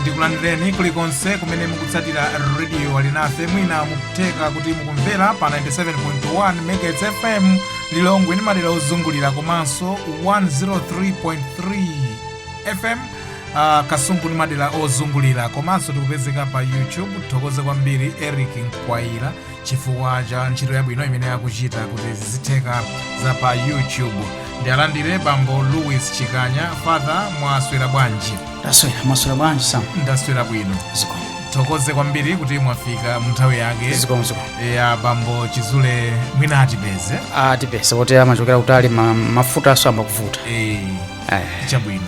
ndikulandireni kulikonse kumene mukutsatira rediyo alinafe mwina mukutheka kuti mukumvera pa 97.1 megahertz fm lilongwe ndi madera ozungulira komanso 103.3 fm uh, kasungu ndi madera ozungulira komanso tikupezeka pa youtube tithokoze kwambiri eric mkwayira chifukwa cha ntchito yabwino imene akuchita kuti zizitheka za pa youtube ndialandire bambo louis chikanya father mwaswera bwanji taswera mwaswera bwanji sam ndaswera bwino zikomo tithokoze kwambiri kuti mwafika munthawi yake zikomo zikomo a bambo chizule mwina atipeze atipeza poti amachokera kutali ma- mafuta ayamba kuvuta Eh, chabwino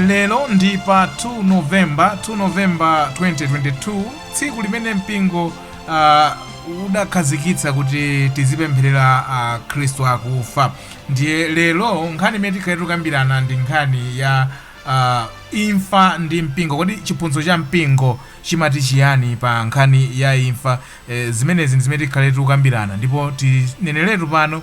lero ndi pa 2 novemba 2 novemba 2022 tsiku limene mpingo uh, udakhazikitsa kuti tizipempherera akhristu uh, akufa ndiye lero nkhani imene tikhale tikukambirana ndi nkhani ya uh, imfa ndi mpingo kodi chiphunzitso cha mpingo chimati chiyani pa nkhani ya imfa eh, zimenezi ndi zimene tikhale tikukambirana ndipo tineneretu pano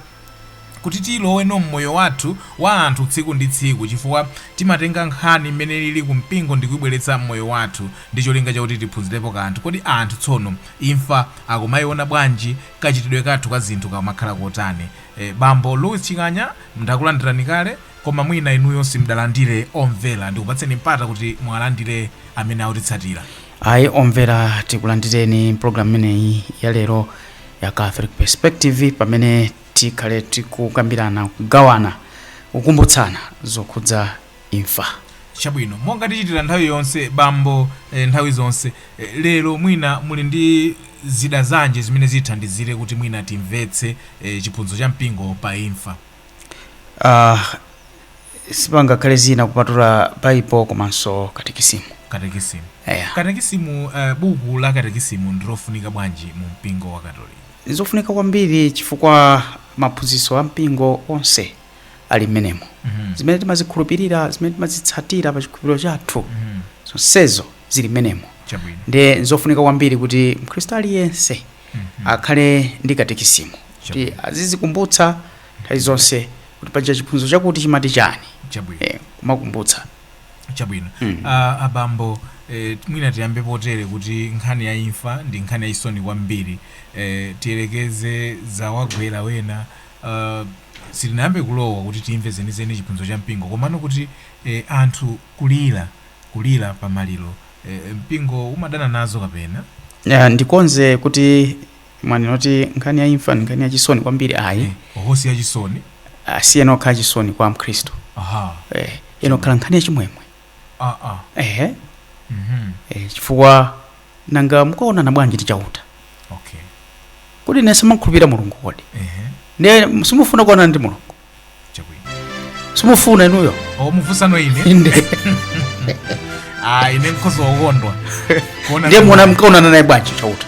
kuti tilowenso mmoyo wathu wa anthu tsiku ndi tsiku chifukwa timatenga nkhani mmene ilili ku mpingo ndikuibweretsa mmoyo wathu ndi cholinga chakuti tiphunzirepo kanthu. Kodi anthu tsono imfa akumaiona bwanji? Kachitidwe kathu ka zinthu kamakhala kotani? Bambo Louis Chikanya, ndakulandirani kale koma mwina inuyo simudalandire omvera ndikupatseni mpata kuti muwalandire amene akutitsatira. ayi omvera tikulandireni mpulogalamu imeneyi ya lero ya catholic perspective pamene tikhale tikukambirana kugawana kukumbutsana zokhudza imfa chabwino monga tichitira nthawi yonse bambo eh, nthawi zonse eh, lero mwina muli ndi zida zanji zimene zithandizire kuti mwina timvetse eh, chiphunzitso cha mpingo pa imfa uh, sipangakhale zina kupatula bible komanso katekisimu katekisimu eya katekisimu uh, buku la katekisimu ndilofunika bwanji mu mpingo wa katolika zofunika kwambiri chifukwa maphunzitso a mpingo onse ali mmenemo Mhm. zimene timazikhulupirira zimene timazitsatira pa chikhulupiriro chathu Mhm. zonsezo zili mmenemo chabwino ndiye nzofunika kwambiri kuti mkhristu aliyense Mhm. akhale ndi katekisimu kuti Chabwino. azizikumbutsa nthawi zonse kuti paja chiphunzitso chakuti chimati chani chabwino eh, kumakumbutsa chabwino Mm. Ah, abambo eh, mwina tiyambe potere kuti nkhani ya imfa ndi nkhani ya chisoni kwambiri eh, tiyerekeze zawagwera wena ah, sitinayambe kulowa kuti timve zenizeni chiphunzitso cha mpingo komano kuti eh, anthu kulira kulira pa maliro eh, mpingo umadana nazo kapena Ya, ndikonze kuti mwanena kuti nkhani ya imfa ndi nkhani ya chisoni kwambiri ayi Eh, osati ya chisoni siyenera kukhala chisoni kwa mkhristu aha eh, iyenera kukhala nkhani ya chimwemwe ah ah ehe mhm eh, chifukwa nanga mukaonana naye bwanji Chauta okay kodi inu simukhulupirira mulungu kodi ehe ndiye simufuna kuonana ndi mulungu chabwino simufuna inuyo mukufunsano ine inde ah ine nkhoza kukondwa kuona ndiye muona mkaonana naye bwanji chauta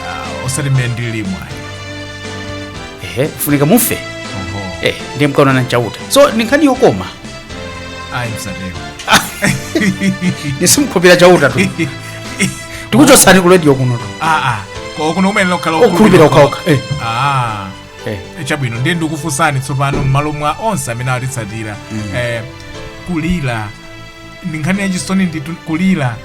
Ah, osati mmene ndilimu ehe kufunika mufe oho eh ndiye mkaonana nchauta so ni nkhani yokoma ayi msatero simukhulupirira chauta tu tikuchotsani ku radio kuno tu ah ah ko kuno kuyenera kukhala Okhulupirira okhaokha, eh. ah Eh, chabwino ndiye ndikufunsani tsopano m'malo mwa onse amene atitsatira eh, kulira ndi nkhani yachisoni ndithu kulira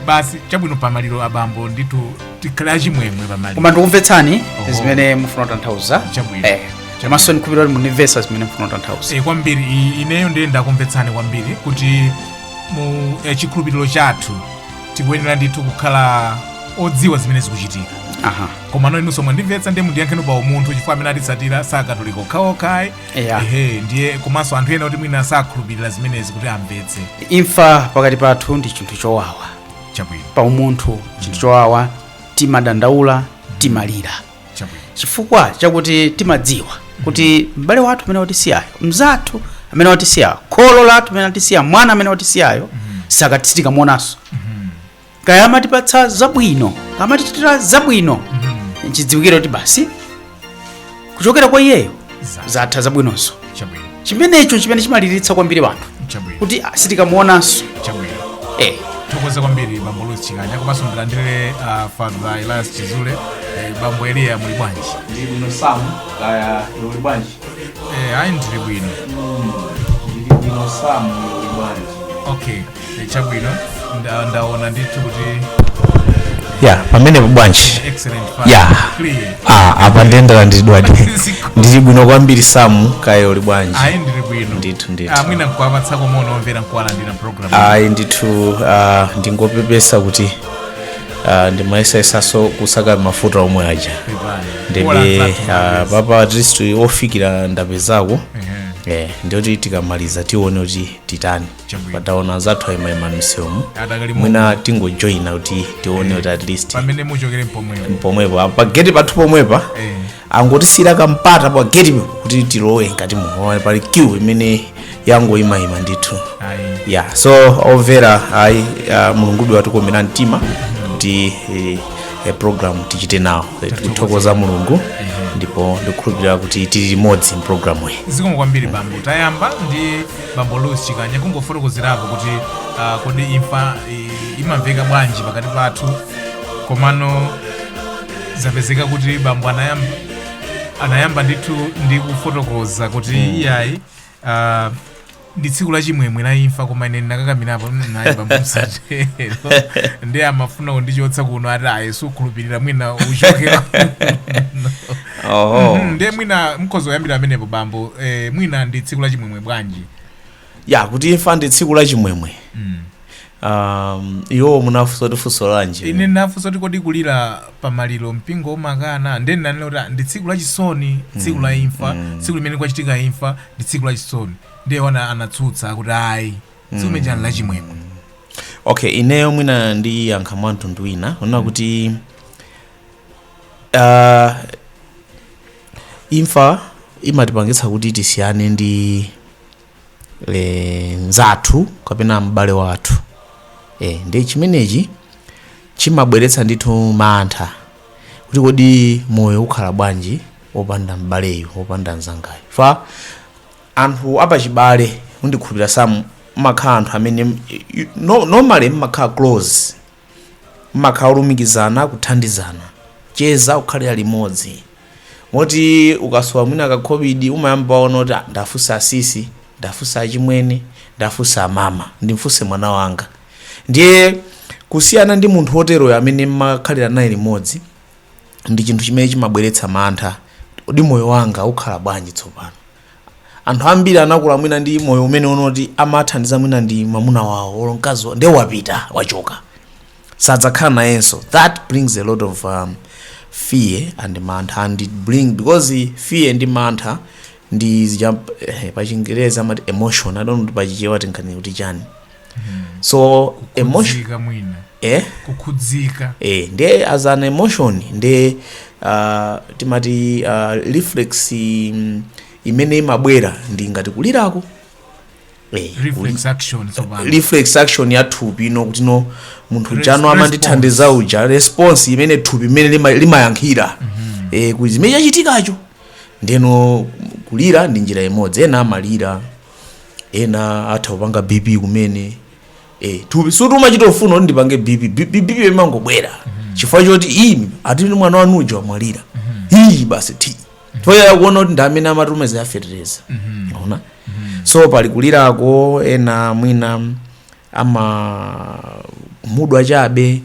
basi chabwino pamaliro abambo ndithu tikhale achimwemwe pamaliro koma ndikumvetsani Oho. zimene mufuna kutanthauza Chabwino. Eh, komanso ndikhulupirira mukundimvetsa zimene mufuna kutanthauza e, kwambiri i- ineyo ndiye ndakumvetsani kwambiri kuti mu e, chikhulupiriro chathu tikuyenera ndithu kukhala odziwa zimene zikuchitika aha komano inunso mwandimvetsa ndiye mundiyankheni pa umunthu chifukwa amene atitsatira sakatolika okhaokhayi Yeah. ehe ndiye komanso anthu ena kuti mwina sakhulupirira zimenezi kuti amvetse imfa pakati pathu ndi chinthu chowawa chabwino pa umunthu chinthu chowawa timadandaula timalira chabwino chifukwa chakuti timadziwa kuti m'bale wathu amene watisiyayo mzathu amene watisiyayo kholo lathu amene watisiyayo mwana amene watisiyayo sitikamuonanso kaya amatipatsa zabwino kaya amatichitira zabwino nchodziwikiratu kuti basi kuchokera kwa iyeyo Za- zatha zabwinozo chabwino chimenecho chimene chimaliritsa kwambiri wanthu chabwino kuti ah, sitikamuonanso chabwino eh. tathokoza kwambiri bambo Louis chikanya komanso ndilandire ah, father elias chizule eh, bambo eliya muli bwanji ndili bwino samu kaya iwe bwanji Eh, ayi ndili bwino ndili bwino samu iwe bwanji okay Eh, chabwino nda- ndaona ndithu kuti ya pamene bwanji excellent part. ya Clear. ah, apa ndendera ndidwadi ndili bwino kwambiri samu kaya uli bwanji ayi ndili bwino Ndithu, ndithu. Ah, mwina nkuwapatsako moni omvera nkuwalandira program ayi ndithu ah, ndingopepesa kuti ah, ndimayesayesaso kusaka mafuta omwe aja Pepani. Ola ndebe nzathu ah, mabwezi. papa at least ofikira ndapezako Ehe. eh, ndiye kuti tikamaliza tione kuti titani Chabwino. pataona anzathu ayimayima msewumu Adakali mu- mwina tingojoyina kuti tione kuti at least pamene muchokere pomwepo pomwepo apa pageti pathu pomwepa Eh. angotisiyira kampata pageti kuti tilowe mkati muone pali queue imene yangoyimayima ndithu ayi ya so omvera ayi ah, mulungu watikomera mtima kuti eh, eh, program tichite nawo Eh, tikuthokoza mulungu ndipo ndikukhulupirira kuti tili limodzi mpulogalamu iyi zikomo kwambiri bambo tayamba ndi bambo Louis Chikanya kungofotokozerapo kuti uh, kodi imfa i- imamveka bwanji pakati pathu komano zapezeka kuti bambo anayamba, anayamba ndithu ndi kufotokoza kuti iyayi uh, ndi tsiku la chimwemwe la imfa koma ine ndinakakamirapo naye bambo musatero ndiye amafuna kundichotsa kuno ati ayi sukhulupirira mwina uchokera oho Mhm, ndiye mwina mkhoza kuyambira pamenepo bambo eh, mwina ndi tsiku la chimwemwe bwanji ya kuti imfa ndi tsiku la chimwemwe Mm. um, iwo munafunsa kuti funso lanji ine ndinafunsa kuti kodi kulira pamaliro mpingo umakana ndiye ndinanena kuti ah, ndi tsiku la chisoni tsiku la imfa tsiku limene kwachitika imfa ndi tsiku la chisoni ndiye ena anatsutsa kuti ayi tsiku limene chani la chimwemwe okay ineyo mwina ndiyankha mwa mtundu wina kunena kuti uh, imfa imatipangitsa kuti tisiyane ndi mzathu kapena m'bale wathu e, ndi chimenechi chimabweretsa ndithu mantha kuti kodi moyo ukhala bwanji opanda m'baleyu opanda mzangayu chifukwa anthu apachibale ndikukhulupira samu amakhala anthu amene no- normally mmakhala close mmakhala olumikizana kuthandizana cheza kukhalira limodzi moti ukasowa mwina kakhobidi umayamba waona kuti "Ah, ndiwafunse asisi ndiwafunse achimwene ndiwafunse amama ndimfunse mwana wanga ndiye kusiyana ndi munthu woteroyo amene mmakhalira naye limodzi ndi chinthu chimene chimabweretsa mantha kodi moyo wanga ukhala bwanji tsopano anthu ambiri anakula mwina ndi moyo umene wonati amathandizana mwina ndi mwamuna wawo olo mkazi wawo ndiye wapita wachoka sadzakhala nayenso that brings a lot of um, fear and mantha and it bring because fear ndi mantha ndi zija eh, pachingereza amati emotion i don't know kuti pachichewa tinkati kuti chani so emotion kukhudzika mwina eh kukhudzika eh nde as an emotion nde uh, timati uh, reflex mm, imene imabwera ndi ngati kulirako eh, kuli- reflex action tsopano reflex action ya thupi ino kuti no munthu Res- chano amandithandiza uja response imene thupi imene lima- limayankhira eh, kuti zimene chachitikacho ndeno kulira ndi njira imodzi ena amalira ena atha kupanga bp kumene eh, thupi si kuti umachita kufuna kuti ndipange bp B- B- bp imangobwera chifukwa choti imi atini mwana wanu uja wamwalira iyi basi ti toyaya kuona kuti ndi amene amatumeza yafetereza ona so pali kulirako ena mwina amakhumudwa chabe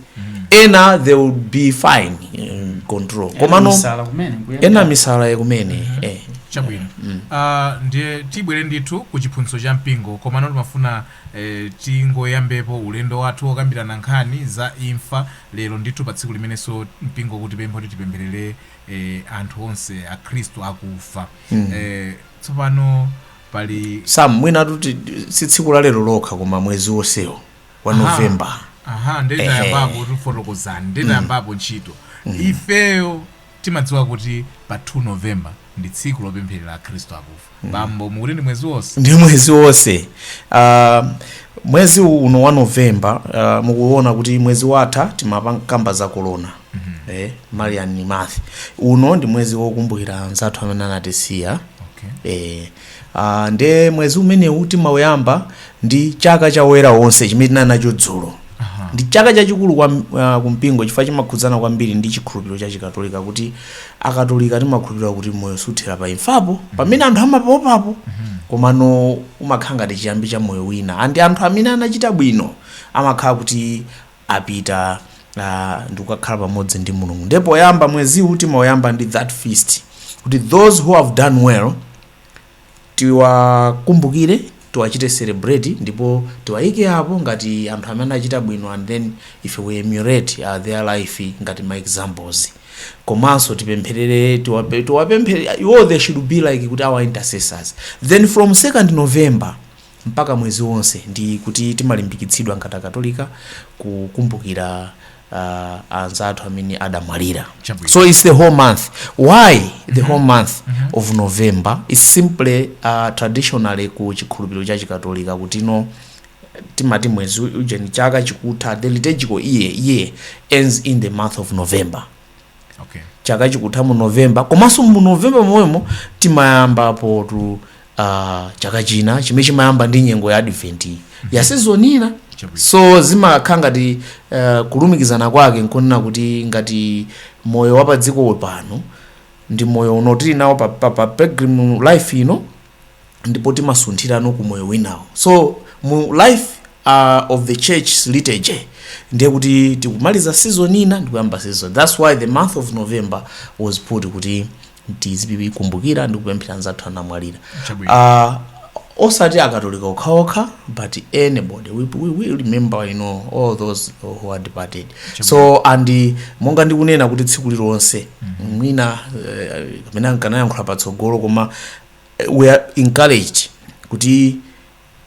ena they will be fine in control komano ena Misala kumene nkuyenda. ena misala kumene eh. chabwino Ah, ndiye tibwere ndithu ku chiphunzitso cha mpingo komano timafuna eh, tingoyambepo ulendo wathu wokambirana nkhani za imfa lero ndithu pa tsiku limenenso mpingo ukutipempha kuti tipempherere eh, anthu onse akhristu akufa eh, tsopano pali sam mwina titi si tsiku la lero lokha koma mwezi wonsewo wa novemba aha nditayamba tifotokozereni nditayambapo ntchito ifeyo timadziwa kuti pa 2 novemba ndi tsiku lopempherera akhristu akufa bambo mukuti ndi mwezi wonse ndi mwezi wonse uh, mwezi uno wa novemba uh, mukuona kuti mwezi watha timakamba za kolona eh, marian month uno ndi mwezi wokumbukira anzathu amene anatisiya eh, ah, nde mwezi umenewu timauyamba ndi chaka cha oyera onse chimene tinali nacho dzulo ndi chaka chachikulu kwa uh, kumpingo chifukwa chimakhudzana kwambiri ndi chikhulupiriro cha chikatolika kuti akatolika timakhulupirira kuti moyo suthera pa imfapo pamene anthu amaopapo komano umakhala ngati chiyambi cha moyo wina and anthu amene anachita bwino amakhala kuti apita uh, ndikukakhala pamodzi ndi mulungu ndiye poyamba mweziwu timauyamba ndi that feast kuti those who have done well tiwakumbukire tiwachite celebrate ndipo tiwayike apo ngati anthu amene achita bwino and then ife we emulate uh, their life ngati ma examples komanso tipempherere tiwape- tiwapemphe iwo they should be like kuti our intercessors then from 2nd november mpaka mwezi wonse, ndi kuti timalimbikitsidwa ngati Akatolika kukumbukira uh, anzathu amene adamwalira. Chabwino. So it's the whole month. Why the whole month of November? It's simply uh, traditionally ku chikhulupiriro cha Chikatolika kuti no timati mwezi ujeni chaka chikutha the liturgical year, year ends in the month of November. okay. chaka chikutha mu november komanso mu november momwemo timayambapo tu uh, chaka china chimene chimayamba ndi nyengo ya advent iyi ya season ina Chabwino. so zimakhala ngati uh, kulumikizana kwake nkunena kuti ngati moyo wa padziko pano ndi moyo uno tili nawo pa, pa, pa pilgrim life ino ndipo timasunthirano ku moyo winawo so mu life uh, of the church liturgy ndiye kuti tikumaliza season ina ndikuyamba season that's why the month of november was put kuti tizikumbukira ndi kupempherera anzathu anamwalira Chabwino. uh, osati akatolika okhaokha but anybody we, we, we remember you know all those who are departed so and uh, monga ndikunena kuti tsiku lilonse mwina eh, kapena nkanayankhula patsogolo koma we are encouraged kuti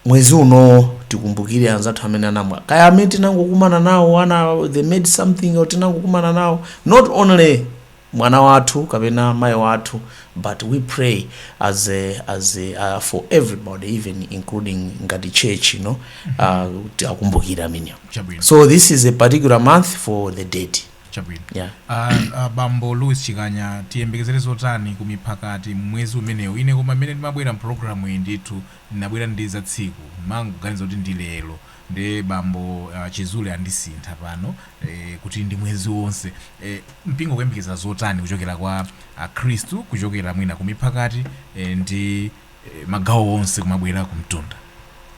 mwezi uno tikumbukire anzathu amene anamwa kaya amene tinangokumana nawo ana they made something or tinangokumana nawo not only mwana wathu kapena mayi wathu but we pray as a, as a, uh, for everybody even including ngati church you know uh, kuti akumbukire amenewo chabwino so this is a particular month for the dead Chabwino. Yeah. A, a bambo Louis Chikanya tiyembekezere zotani ku miphakati m'mwezi umenewu? Ine koma mmene ndimabwera m'programu iyi ndithu ndinabwera ndi za tsiku. Ndimangoganiza kuti ndi lero. Nde bambo ah, Chizule andisintha pano eh, kuti ndi mwezi wonse. Eh, mpingo ukuyembekezera zotani kuchokera kwa Akhristu kuchokera mwina ku miphakati eh, ndi eh, magawo onse kumabwera kumtunda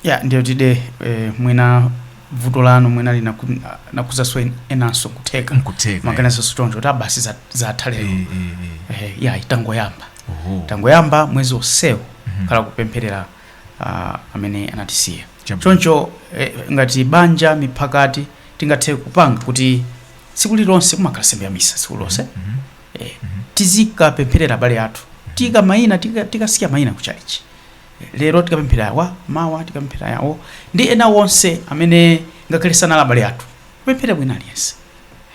ya ndi zoonadi eh, mwina vuto lanu mwina linaku- nakuzaswa en- enanso kutheka mkutheka maganizo choncho kuti a basi za- zatha lero Eh, eh, eh. Eh, yayi tangoyamba Oho. tangoyamba mwezi onsewu Mhm. ukhala kupempherera ah, amene anatisiya Chabwino. choncho eh, ngati banja miphakati tingathe kupanga kuti tsiku lilonse kumakhala nsembe ya misa tsiku lilonse Mhm. eh, tizikapempherera abale athu tika maina tika- tikasiya maina ku chalichi Eh, lero tikapempherera awa mawa tikapempherera yawo ndi ena onse amene ngakhale sanali abale athu kupempherera wina aliyense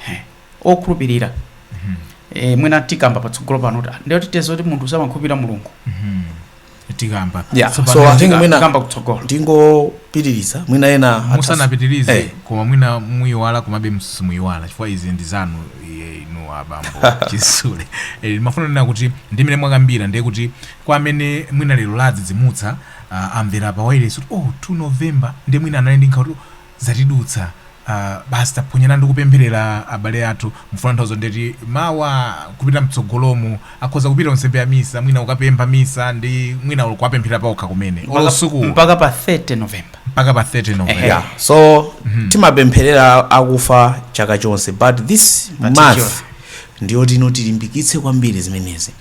Eh, okhulupirira eh, mwina tikamba patsogolo pano kuti ah, ndiye kuti tidziwe kuti munthu samakhulupirira mulungu tikamba Yeah, so I think mwina- tikamba kutsogolo ndingopitiriza mwina ena atha- musanapitirize Eh. koma mwina muyiwala komabe simuyiwala chifukwa izi ndi zanu izi inu abambo chizule Eh, ndimafuna kunena kuti ndi mmene mwakambira ndiye kuti kwa amene mwina lero adzidzimuka ah, amvera pa wailesi kuti oh 2 november ndi mwina anali ndi nkhawa kuti zatidutsa uh basi taphonyelani ndikupempherela abale athu mukufuna nthawi zonse ndiye kuti mawa kupita mtsogolomu akhoza kupita ku nsembe ya misa mwina ukapempha misa ndi mwina olo kuwapempherera paokha kumene olo Mpaka- suku mpaka pa 30 november mpaka pa 30 november Ehe. yeah. so timapempherera akufa chaka chonse but this Particular. month ndiyoti ino tilimbikitse kwambiri zimenezi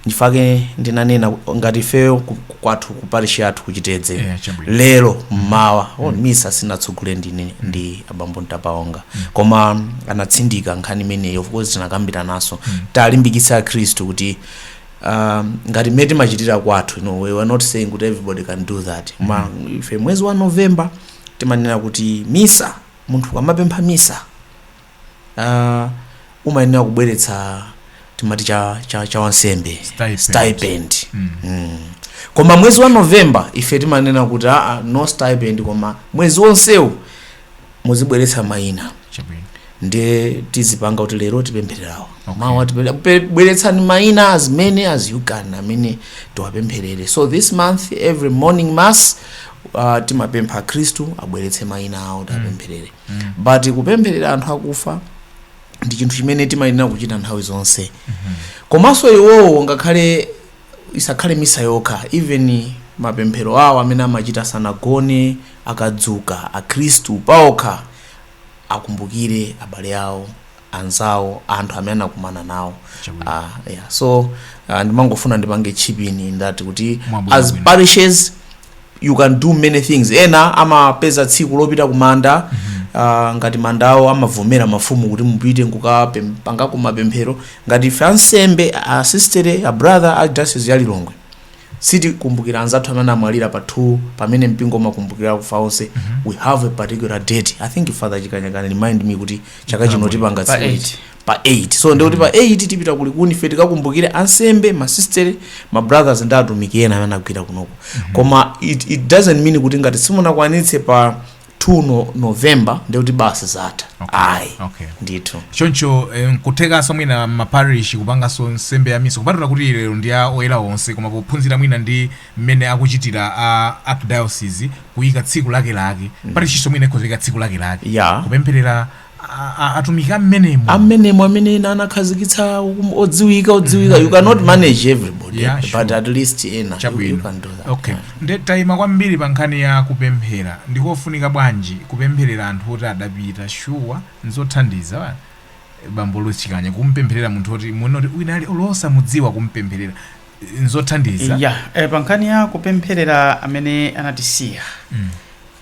Nchifukwa chake ndinanena ku- ngati ifeyo ku- ku- kwathu ku parish yathu ku Chitedze Yeah, chabwino. lero mmawa oh, misa sindinatsogolere ndine ndi abambo Ntapaonga koma anatsindika nkhani imeneyo of course tinakambirananso tiwalimbikitse akhristu kuti um, ngati mmene timachitira kwathu no, we were not saying kuti everybody can do that koma ife mwezi wa november timanena kuti misa munthu amapempha misa uh, umayenera kubweretsa timati cha, cha, cha wansembe Stipend. stipend Mm. mm. koma mwezi wa november ife timanena kuti aa no stipend koma mwezi wonsewu muzibweretsa mayina chabwino ndiye tizipanga kuti lero tipemphererawo Okay. mawa tipemphera- pe- bweretsani mayina as many as you can amene tiwapempherere so this month every morning mass uh, timapempha akhristu abweretse mayina awo tiwapempherere but kupempherera anthu akufa ndi chinthu chimene timayenera kuchita nthawi zonse komanso iwowo ngakhale isakhale misa yokha even mapemphero awo amene amachita sanagone akadzuka akhristu paokha akumbukire abale awo anzawo anthu amene anakumana nawo Chabwino. Ah, yeah. so uh, ndimangofuna ndipange chip in in that kuti Mwabwino as bwino. parishes you can do many things ena amapeza tsiku lopita kumanda ah, ngati mandawo amavomera mafumu kuti mupite nkukapangako mapemphero ngati ife ansembe asistere abrother a diocese ya lilongwe sitikumbukira anzathu amene anamwalira pa 2 pamene mpingo umakumbukira akufa onse we have a particular date i think father chikanya can remind me kuti chaka chino tipanga Pa tsiku eight. liti. pa 8 so ndikuti pa 8 tipita kulikuni ife tikakumbukire ansembe masistere mabrothers ndi atumiki ena amene agwira kunoko koma it, it doesn't mean kuti ngati simunakwanitse pa 2 november ndekuti basi zatha Okay, ayi okay. ndithu choncho eh, nkuthekanso mwina m'maparish kupanganso nsembe ya misa kupatula kuti lero ndi a oyera onse koma pophunzira mwina ndi mmene akuchitira a archdiocese kuyika tsiku lake lake parishinso mwina ikhoza kuyika tsiku lake lake Yeah. kupempherera a- a- atumiki a mmenemo a mmenemo amene ena anakhazikitsa um- odziwika odziwika you cannot manage everybody Yeah, sure. but at least ena you- you chabwino can do that. okay nde tayima kwambiri pa nkhani ya kupemphera ndikofunika bwanji kupempherera anthu oti adapita shuwa nzothandiza wa- bambo Chikanya kumpempherera munthu oti munoti wina aliyense olo osamudziwa kumpempherera nzothandiza ya eh, pa nkhani ya kupempherera amene anatisiya Mm.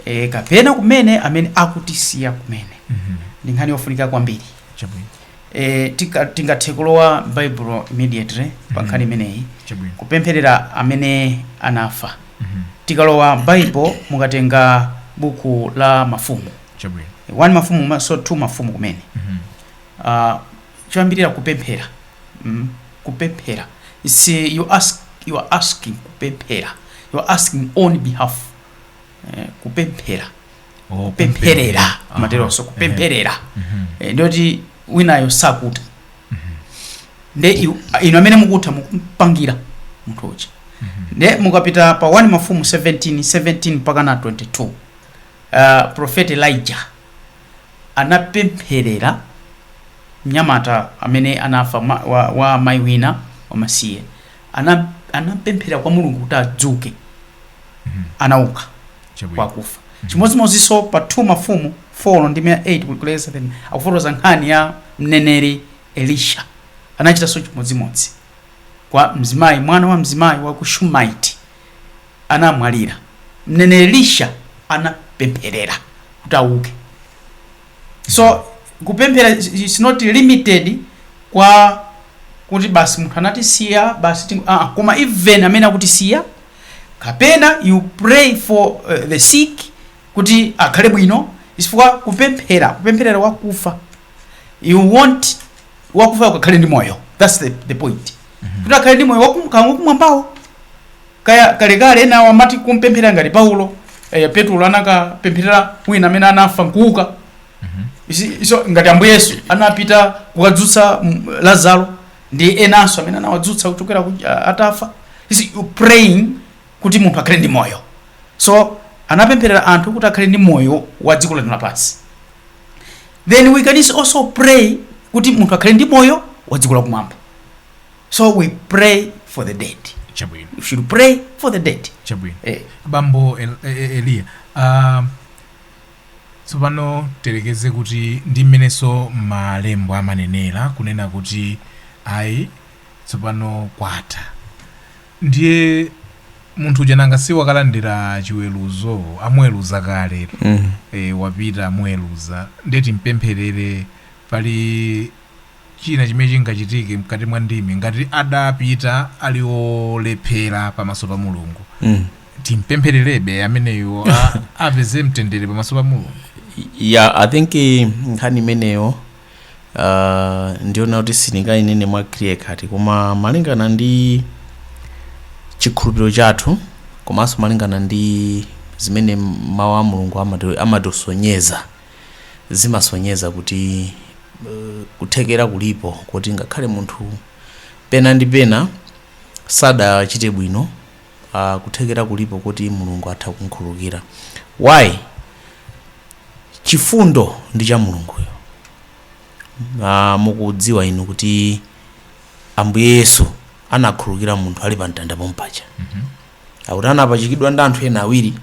eh, kapena kumene amene akutisiya kumene Mhm. ndi nkhani yofunika kwambiri chabwino eh, tika- tingathe kulowa baibulo immediately pa nkhani imeneyi chabwino kupempherera amene anafa Mhm. tikalowa baibulo mukatenga buku la mafumu chabwino 1 mafumu komanso 2 mafumu kumene Mhm. uh, choyambirira kupemphera mm? kupemphera It's, uh, you ask you are asking kupemphera you are asking on behalf eh, kupemphera Oh, kupempherera Aha. mateloso kupempherera Mhm. Eh, ndiyoti winayo sakutha nde iw- inu amene mukutha mukumpangira munthu uja nde mukapita pa 1 mafumu 17 17 mpaka na 22 uh, prophet elijah anapempherera mnyamata amene anafa ma, wa, wa mayi wina wamasiye ana, anapemphera kwa mulungu kuti adzuke anauka Chabwino. kwakufa chimodzimodzinso pa 2 mafumu 4 ndi 8 kulekeza 7 akufotokoza nkhani ya mneneri elisha anachitanso chimodzimodzi kwa mzimayi mwana wa mzimayi wa ku shumaiti anamwalira, mneneri Elisha anapempherera kuti auke. So kupemphera is- is not limited kwa kuti basi munthu anatisiya basi ting- ah, ah, koma even amene akutisiya kapena you pray for uh, the sick kuti akhale bwino chifukwa kupemphera kupempherera wakufa you want wakufayo akakhale ndi moyo that's the, the point kuti akhale ndi moyo wakumwambawo Kaya kalekale enawo amati kumpempherera ngati Paulo eh, Petulo anakapempherera wina amene anafa nkuuka Isi- iso ngati ambuye yesu anapita kukadzutsa mm, lazaro ndi enanso amene anawadzutsa kuchokera ku- a- atafa Isi- praying kuti munthu akhale ndi moyo so anapempherera anthu kuti akhale ndi moyo wa dziko lino lapansi then we can also pray kuti munthu akhale ndi moyo wa dziko lakumwamba so we pray for the dead chabwino we should pray for the dead chabwino eh, bambo El- E- E- eliya ah, tsopano tiyerekeze kuti ndi mmenenso malembo amanenera kunena kuti ayi tsopano kwatha ndiye munthu uja nanga si wakalandira chiweruzo amuweruza kale mm. e, wapita amuweruza nde timpempherere pali china chimene chingachitike mkati mwa ndimi ngati adapita ali olephera pamaso pa mulungu mm. timpemphererebe ameneyo a- apeze mtendere pamaso pa mulungu ya i think eh, nkhani imeneyo uh, ndiona kuti sindingainene mwa clear cut koma malingana ndi chikhulupiriro chathu komanso malingana ndi zimene mawu a mulungu amati- amatisonyeza zimasonyeza kuti kuthekera kulipo kuti ngakhale munthu pena ndi pena sadachite bwino uh, kuthekera kulipo kuti mulungu atha kumkhululukira why chifundo ndi cha mulunguyo uh, mukudziwa inu kuti ambuye yesu anakhululukira munthu ali pa mtanda pompaja akuti anapachikidwa ndi anthu ena awiri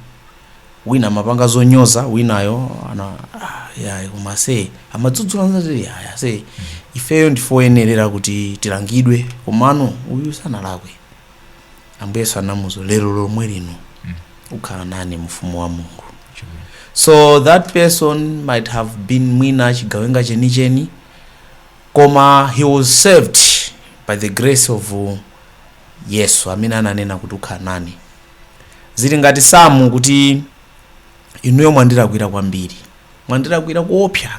wina amapanga zonyoza winayo ana ah, ya koma se amadzudzula mnzake ya se ifeyo ndife oyenerera kuti tilangidwe komano uyu sanalakwe ambuye yesu anamuuza lero lomwe lino ukhala nane mu ufumu wa mulungu so that person might have been mwina chigawenga chenicheni koma he was saved by the grace of uh, Yesu amene ananena kuti ukhala nane. Zili ngati Samu kuti inuyo mwandilakwira kwambiri, mwandilakwira kuopsa.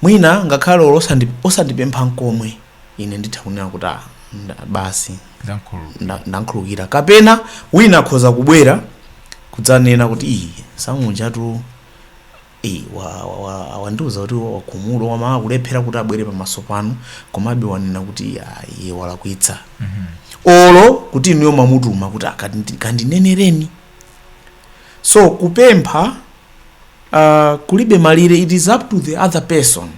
Mwina ngakhale olo osandi- osandipempha nkomwe, ine nditha kunena kuti "Ah, nda- basi Ndamkhululukira. nda- ndankhululukira. Kapena wina akhoza kubwera kudzanena kuti ayi Samu uja tu Eee wa wa wa wandiuza kuti wakhumudwa koma akulephera kuti abwere pamaso panu komabe wanena kuti ayi iye walakwitsa olo kuti inuyo mwamutuma kuti akandi- kandinenereni so kupempha uh, kulibe malire it is up to the other person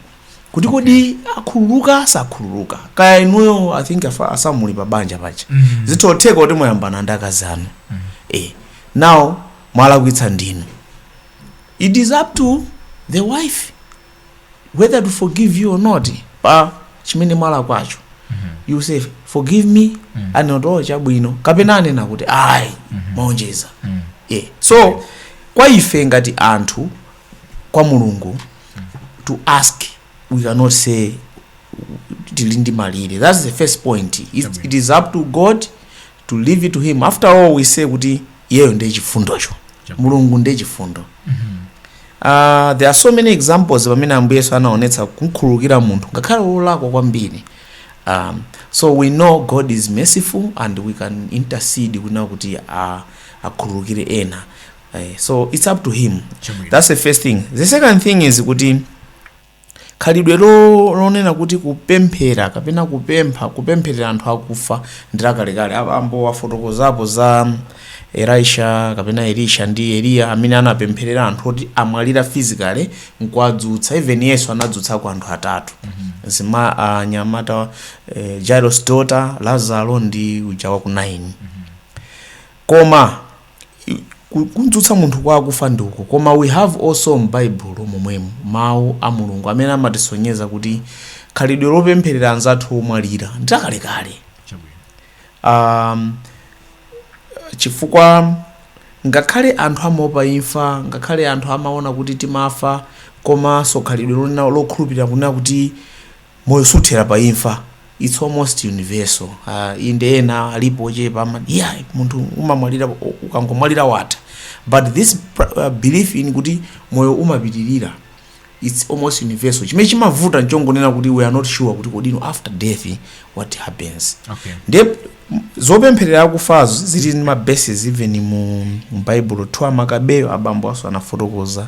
kuti kodi akhululuka sakhululuka kaya inuyo i think afa- asamuli pa banja paja Mhm. zimatheka kuti mwayambana ndi akazi anu eh now mwalakwitsa ndinu It is up to the wife whether to forgive you or not pa chimene mwalakwacho you say forgive me anena kuti oh chabwino kapena anena kuti ayi mwaonjeza yeah. so kwa ife ngati anthu kwa mulungu to ask we cannot say tili ndi malire that's the first point it, it is up to god to leave it to him after all we say kuti iyeyo ndiye chifundocho mulungu ndiye chifundo uh, there are so many examples pamene ambuye yesu anaonetsa kumkhululukira munthu ngakhale wolakwa kwambiri um, so we know god is merciful and we can intercede kunena kuti uh, akhululukire ena uh, so it's up to him Chabwino. that's the first thing the second thing is kuti Khalidwe lo- lonena kuti kupemphera kapena kupempha kupempherera anthu akufa ndi lakalekale abambo wafotokozapo za elisha kapena elisha ndi eliya amene anapempherera anthu oti amwalira physically nkuwadzutsa even yesu anadzutsako anthu atatu zima anyamata eh, jairus daughter lazaro ndi uja wa ku naini koma Kudzutsa munthu kwa akufa ndi uko, koma we have also m'Baibulo momwemu Mawu a Mulungu amene amatisonyeza kuti khalidwe lopempherera anzathu omwalira ndi lakalekale. Um, chifukwa ngakhale anthu amaopa imfa, ngakhale anthu amaona kuti timafa, komanso khalidwe lonena lokhulupirira kunena kuti Moyo suthera pa imfa, it's almost universal, uh, inde ena alipo ochepa amati eh, munthu umamwalira u- ukangomwalira watha but this pr- uh, belief in kuti moyo umapitirira it's almost universal chimene chimavuta nchongonena kuti we are not sure kuti kodino after death what happens Okay. ndiye m- zopempherera akufazo zili ndi ma basis even mu mu bible 2 amakabeyo abambo apaso anafotokoza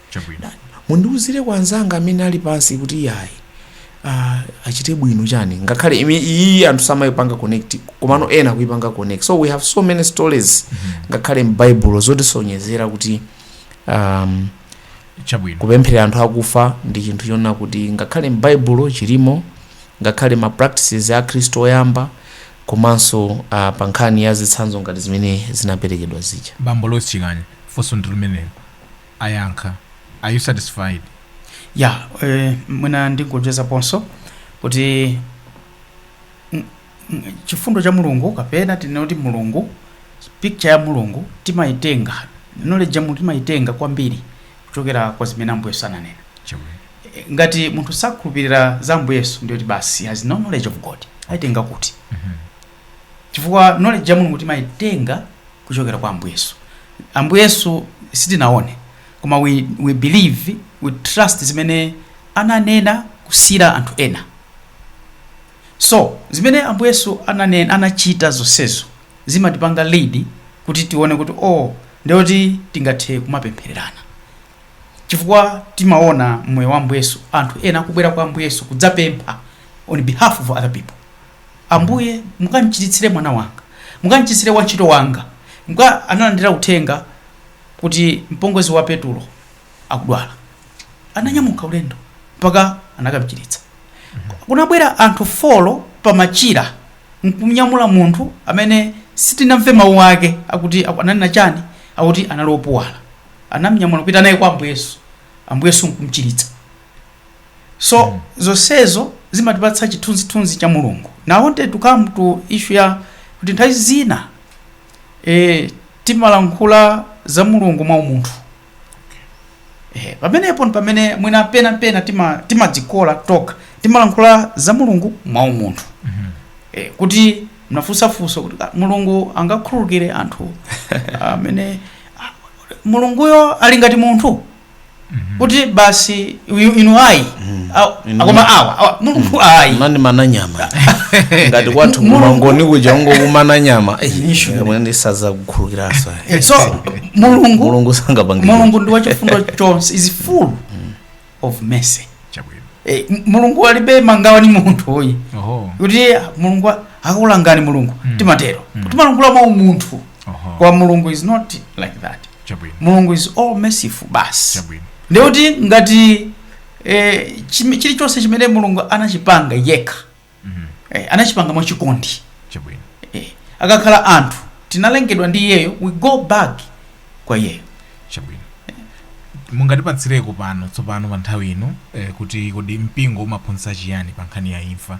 Chabwino. Mundiuzire kwa anzanga amene ali pansi kuti yayi uh, achite bwino chani ngakhale imi- iyi anthu samayipanga connect komano ena kuyipanga connect so we have so many stories ngakhale m'baibulo zotisonyezera kuti um, Chabwino. kupempherera anthu akufa ndi chinthu chonena kuti ngakhale m'baibulo chilimo ngakhale ma practices a khristu oyamba komanso uh, pa nkhani ya zitsanzo ngati zimene zinaperekedwa zija Bambo Lois Chikani. Funso ndi limenelo. ayankha are you satisfied ya eh, mwina ndingoonjezaponso kuti mm, mm, chifundo cha mulungu kapena tinene kuti mulungu picture ya mulungu timayitenga knowledge ya mulungu timayitenga kwambiri kuchokera kwa zimene ambuye yesu ananena chabwino Eh, ngati munthu sakhulupirira za ambuye yesu ndiye kuti basi has no knowledge of god ayitenga kuti Mhm. chifukwa knowledge ya mulungu timayitenga kuchokera kwa ambuye yesu ambuye yesu sitinaone koma we, we believe we trust zimene ananena kusiyira anthu ena so zimene ambuye yesu ananena anachita zonsezo zimatipanga lead kuti tione kuti oh ndiye kuti tingathe kumapemphererana chifukwa timaona mmoyo wa ambuye yesu anthu ena akubwera kwa ambuye yesu kudzapempha on behalf of other people Ambuye, mukamchiritsire mwana wanga. Mukamchiritsire wantchito wanga. Mka analandira uthenga kuti mpongozi wa Petulo akudwala. Ananyamuka ulendo mpaka anakamchiritsa. Kunabwera anthu folo pamachira nkunyamula munthu amene sitinamve mawu ake akuti aku- ananena chani akuti anali opuwala anamnyamula kupita naye kwa ambuye yesu ambuye yesu nkumchiritsa so mm. zonsezo zimatipatsa chithunzithunzi cha mulungu now I wanted to come to issue ya kuti nthawi zina e, timalankhula za mulungu mwa umunthu e, pamenepo ndi pamene mwina pena pena tima- timadzikola tokha timalankhula za mulungu mwa umunthu e, kuti munafunsa funso kuti "Ah, mulungu angakhululukire anthu amene ah, mulunguyo ali ngati munthu kuti basi uyu inu ayi Aw- Inu- akoma awa awa, mulungu ayi amanimana nyama ngati kwathu Mulungu- kumangoni kuja ungokumana nyama Nishu. sindidzakukhululukiranso so mulungu mulungu sangapange mulungu ndi wachifundo chonse is full of mercy chabwino Eh, m- mulungu alibe mangawa ni munthu uyi oho kuti mulungu a- akulangani mulungu timatero timalankhula mwa umunthu oho kwa mulungu is not like that chabwino mulungu is all merciful basi chabwino ndikuti ngati eh, chim- chilichonse chimene mulungu anachipanga yekha Mhm. eh, anachipanga mwachikondi chabwino eh, akakhala anthu tinalengedwa ndi iyeyo we go back kwa iyeyo chabwino mungatipatsireko pano tsopano pa nthawi ino eh, kuti kodi mpingo umaphunzitsa chiyani pa nkhani ya imfa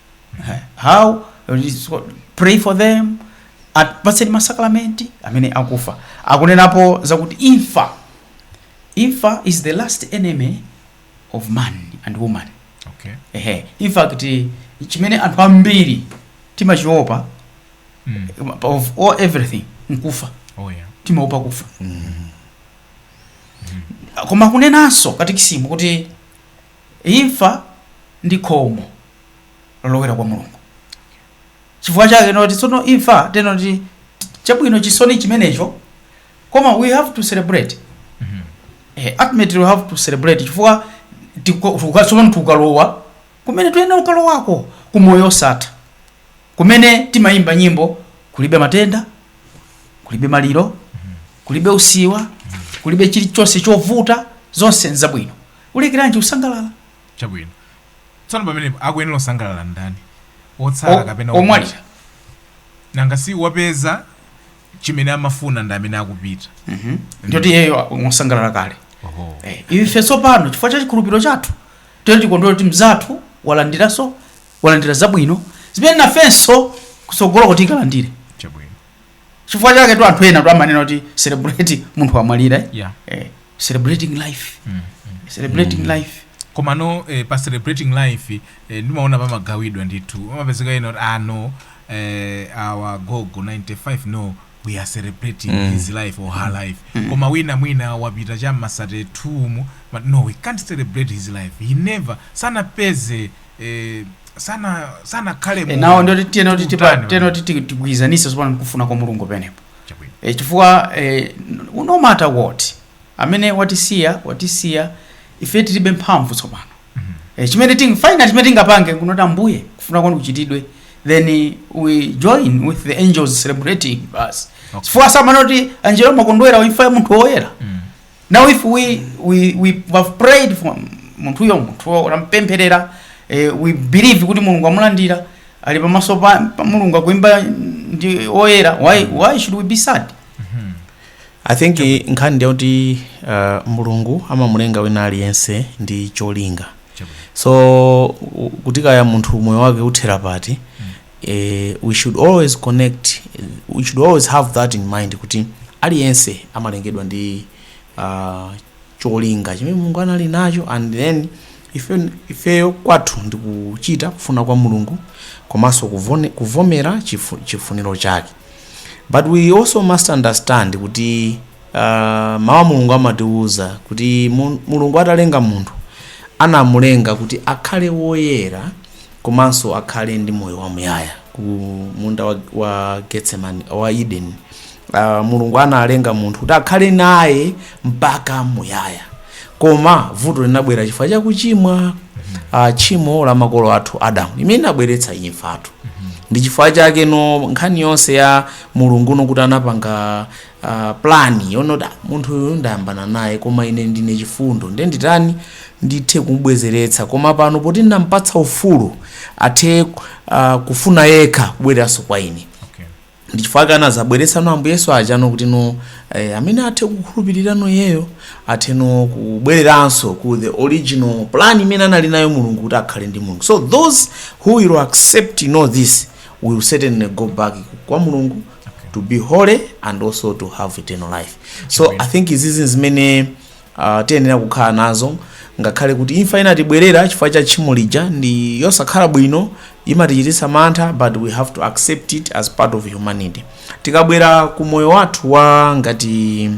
how pray for them apatseni masakramenti amene akufa akunenapo zakuti imfa imfa is the last enemy of man and woman okay ehe in fact chimene anthu ambiri timachiopa mm. of all everything nkufa oh yeah timaopa kufa koma kunenanso katekisimu kuti Imfa ndi khomo lolowera kwa Mulungu. Chifukwa chake tinena kuti tsono imfa tinena kuti chabwino chisoni chimenecho koma we have to celebrate. Eh, ultimately we have to celebrate chifukwa tiko- tuka- tsopano tukalowa kumene tuyenera kukalowako ku moyo osatha kumene timayimba nyimbo kulibe matenda kulibe maliro kulibe usiwa kulibe chilichonse chovuta zonse nzabwino Ulekeranji kusangalala? Chabwino. Tsono pamenepo akuyenera kusangalala ndani? Otsala kapena omwalira? Omwalira. Nanga si wapeza chimene amafuna ndi amene akupita. Ndiye kuti iyeyo wasangalala kale. Oho. Eh, ife tsopano chifukwa cha chikhulupiriro chathu tiyeni tikondwere kuti mnzathu walandiranso walandira zabwino zimene nafenso kutsogoloko tikalandire. Chabwino. chifukwa chaketu anthu enatu amanena kuti celebrate munthu wamwalira eh? yeah. eh, celebrating life mm. celebrating mm. life komano eh, pa celebrating life eh, ndimaona pamagawidwa ndithu amapezeka ena kuti ah no eh, our gogo 95 no we are celebrating mm. his life or her life mm. koma wina mwina wapita cha ma 32 mu but no we can't celebrate his life he never sanapeze sanakhale mu now ndiye kuti tiyenera kuti tipa Utani tiyenera kuti ti- tigwirizanitse tsopano ndi kufuna kwa mulungu pamenepo Chabwino. e, chifukwa e, no matter what amene watisiya watisiya ife tilibe mphamvu tsopano e, chimene ting final chimene tingapange n'kunena kuti ambuye kufuna kwanu kuchitidwe then we join with the angels celebrating basi Okay. chifukwa amanena kuti angelo amakondwera pa imfa ya munthu woyera Mm. now if we, we, we have prayed for munthuyo munthuyo tampempherera eh, we believe kuti mulungu amulandira ali pamaso pa, pa mulungu akuimba ndi oyera why, why should we be sad i think eh, nkhani ndi yakuti uh, mulungu amamulenga wina aliyense ndi cholinga so u- kuti kaya munthu moyo wake uthera pati eh, we should always connect we should always have that in mind kuti aliyense amalengedwa ndi uh, cholinga chimene mulungu anali nacho and then ife- ifeyo kwathu ndi kuchita kufuna kwa mulungu komanso kuvone- kuvomera chifu- chifuniro chake but we also must understand kuti uh, mawu a mulungu amatiwuza kuti mu- mulungu atalenga munthu anamulenga kuti akhale woyera komanso akhale ndi moyo wamuyaya ku munda wa, wa getsemani wa eden uh, mulungu analenga munthu kuti akhale naye mpaka muyaya koma vuto linabwera chifukwa cha kuchimwa uh, tchimo la makolo athu adamu limene linabweretsa imfatu ndi chifukwa chakeno nkhani yonse ya mulunguno kuti anapanga uh, plan yoona kuti "Ah, munthu uyu ndayambana naye koma ine ndine chifundo ndiye nditani ndithe kumubwezeretsa koma pano poti ndinampatsa ufulu athe uh, kufuna yekha kubwereranso kwa ine okay. ndi chifukwa chake anadzabweretsano ambuye yesu ajano kutino eh, amene athe kukhulupirirano iyeyo atheno kubwereranso ku the original plan imene anali nayo mulungu kuti akhale ndi mulungu so those who will accept you know this will certainly go back kwa mulungu okay. to be holy and also to have eternal life so i think izizi zimene uh, tiyenera kukhala nazo ngakhale kuti imfa inatibwerera chifukwa cha tchimo lija ndi yosakhala bwino imatichititsa mantha but we have to accept it as part of humanity tikabwera ku moyo wathu wa ngati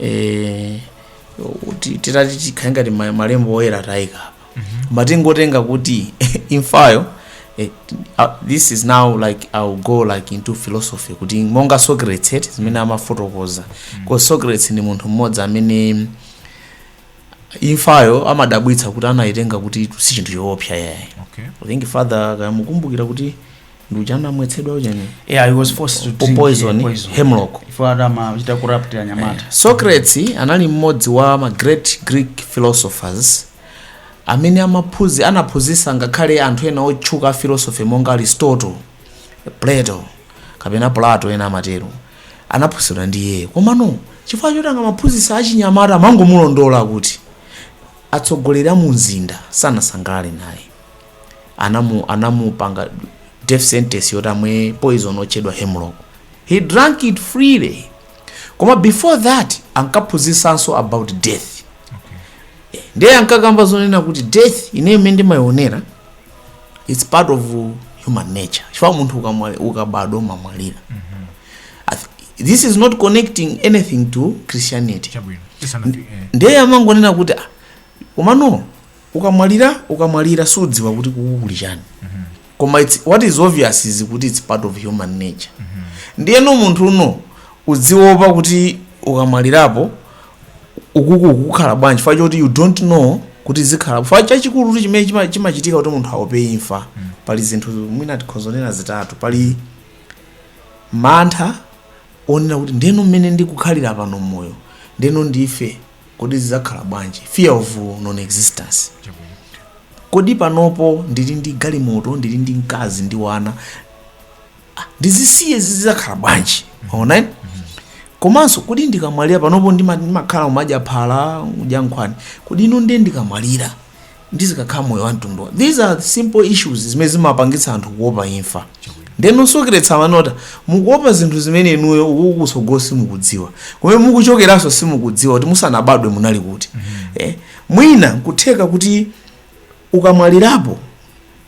eh, ti- titati tikhale ngati ma- malembo oyera tayika koma tingotenga kuti imfayo eh, uh, this is now like ill go like into philosophy kuti monga socrates eti zimene amafotokoza because socrates ndi munthu mmodzi amene imfayo amadabwitsa kuti anayitenga kuti si chinthu choopsa yayi okay. I think father akumukumbukira kuti ndi uja anamwetsedwa ujeni yeah he was forced to drink poison, eh, poison. hemlock. Ifo ati amawachita corrupt anyamata socrates anali mmodzi wa ma great greek philosophers amene amaphuzi anaphunzitsa ngakhale anthu ena otchuka a philosophy monga aristotle plato kapena plato ena amatero anaphunzitsidwa ndi iyeyo komano chifukwa choti angamaphunzitsa achinyamata amangomulondola kuti atsogoleri a mu mzinda sanasangalale naye anamu anamupanga death sentence yoti amwe poison otchedwa hemlock he drank it freely koma before that ankaphunzisanso about death Eh, ndiye ankakamba zonena kuti death ine mmene ndimayionera its part of human nature chifukwa munthu ukamwa- ukabadwa umamwalira I th- this is not connecting anything to christianity chabwino tisanati eh. ndiye amangonena kuti "Ah, komano ukamwalira ukamwalira sudziwa kuti kuku kuli chani koma it's, what is obvious is kuti it's part of human nature ndiyeno munthu iwe udziwopa kuti ukamwalirapo ukuku ukukhala bwanji chifukwa choti you don't know kuti zikhala chifukwa chachikulu kuti chimene chima- chimachitika kuti munthu aope imfa pali zinthu mwina tikhoza kunena zitatu pali mantha onena kuti ndeno mmene ndikukhalira pano moyo ndeno ndife kodi zizakhala bwanji fear of non existence kodi panopo ndili ndi galimoto ndili ndi mkazi ndi wana Ah, ndizisiye zizakhala bwanji mwaona eti? komanso kodi ndikamwalira panopo ndima- ndimakhala umadya phala udya nkhwani kodi ino ndiye ndikamwalira ndizikakhala moyo wa mtundu wa- these are simple issues zimene zimapangitsa anthu kuopa imfa ndeno socrates amanena mukuopa zinthu zimene inuyo ukukutsogolo simukudziwa kumene mukuchokeranso simukudziwa kuti musanabadwe munali kuti eh, mwina nkutheka kuti ukamwalirapo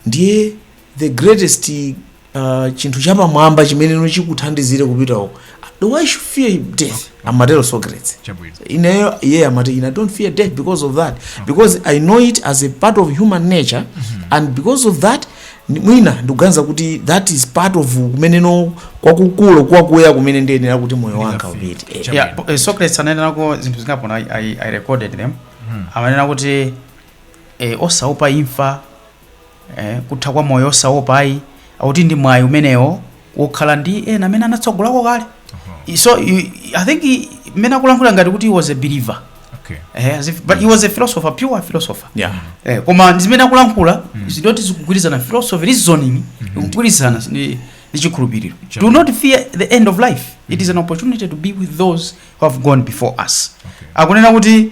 ndiye the greatest uh, chinthu chapamwamba chimeneno chikuthandizire kupita uko the why should fear death amatero socrates chabwino ineyo iye amati ine i don't fear death because of that because i know it as a part of human nature and because of that ni- mwina ndikuganiza kuti that is part of kumeneko kwakukulu kwakuya kumene ndiyenera kuti moyo wanga Ndingafike. upite Eh, Chabwino. yeah, po- eh, socrates ananenako zinthu zingapo I, I recorded them amanena kuti eh, osaopa imfa eh, kutha kwa moyo osaopa ayi akuti ndi mwayi umenewo wokhala ndi ena amene anatsogolako kale I- so you- i think i- mmene akulankhula ngati kuti he was a believer Okay. eh, as if, but he was a philosopher pure philosopher Yeah. eh, koma ndi zimene akulankhula zindoti zikugwirizana philosophy reasoning ikugwirizana ndi ndi chikhulupiriro Sure. do not fear the end of life it is an opportunity to be with those who have gone before us Okay. akunena kuti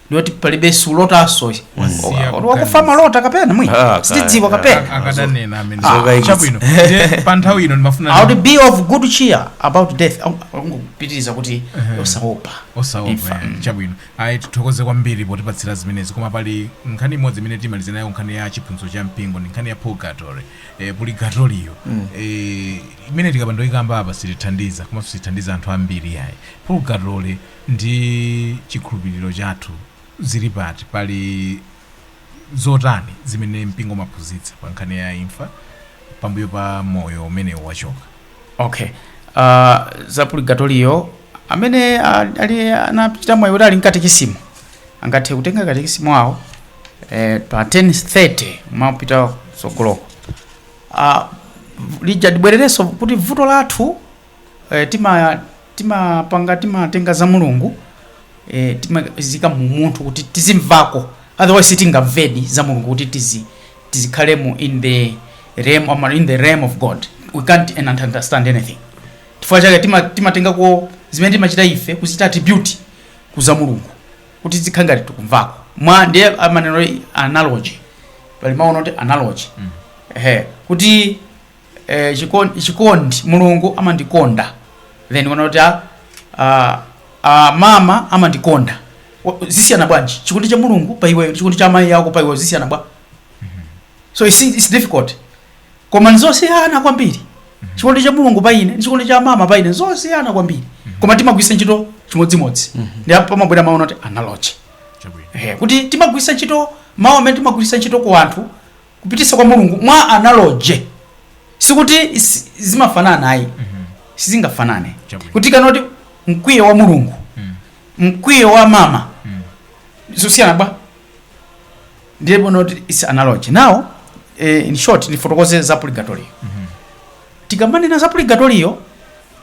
ndoti palibe salotanso Wasiya wakufa kuganiza. malota kapena mwi Ah, kaya. sitidziwa kapena akadanena amene Zokaikitsa. chabwino Ndiye pa nthawi ino ndimafuna I would be of good cheer about death akupitiriza kuti osaopa osaopa Imfa. eh, chabwino ayi tithokoze kwambiri potipatsira zimenezi koma pali nkhani imodzi imene timalize nayo nkhani ya chiphunzitso cha mpingo ndi nkhani ya purgatory eh, purigatoriyo eh, imene tikapanda ikamba apa sitithandiza komanso sitithandiza anthu ambiri yayi purgatory ndi chikhulupiriro chathu zili pati? Pali zotani zimene mpingo umaphunzitsa pa nkhani ya imfa pambuyo pa moyo umenewo wachoka? ok uh, za purigatoriyo amene uh, ali anachita mwayi kuti ali ndi katikisimu angathe kutenga katikisimu awo eh, pa 1030 kumapita kutsogoloko uh, lija tibwererenso kuti vuto lathu eh, tima timapanga timatenga za mulungu eh, timaziika mu munthu kuti tizimvako otherwise sitingamvedi za mulungu kuti tizi tizikhalemo in the realm or in the realm of god we can't understand anything chifukwa chake tima- timatengako zimene timachita ife kuchita attribute kuza mulungu kuti zikhale ngati tikumvako mwa ndiye amanena analogy pali mawu oti analogy ehe kuti eh, chikondi, chikondi mulungu amandikonda then unaona kuti ah, ah, ah, mama amandikonda Wa- zisiyana bwanji chikondi cha mulungu pa iweyo ndi chikondi cha amayi ako pa iweyo zisiyana bwa so it's, it's difficult koma nzosiyana kwambiri chikondi cha mulungu pa ine ndi chikondi cha mama pa ine nzosiyana kwambiri koma timagwisa ntchito chimodzimodzi ndi apo pamabwera mawu oti analogy Chabwino. Eh, kuti timagwisa ntchito mawu amene timagwisa ntchito ku anthu kupitisa kwa mulungu mwa analogy sikuti si- zimafanana ayi sizingafanane Chabwino. kuti tikanoti mkwiyo wa mulungu mkwiyo wa mama zosiyana bwa ndiye ponoti is analogy now eh, in short ndifotokoze za purgatorio tikamanena za purgatorio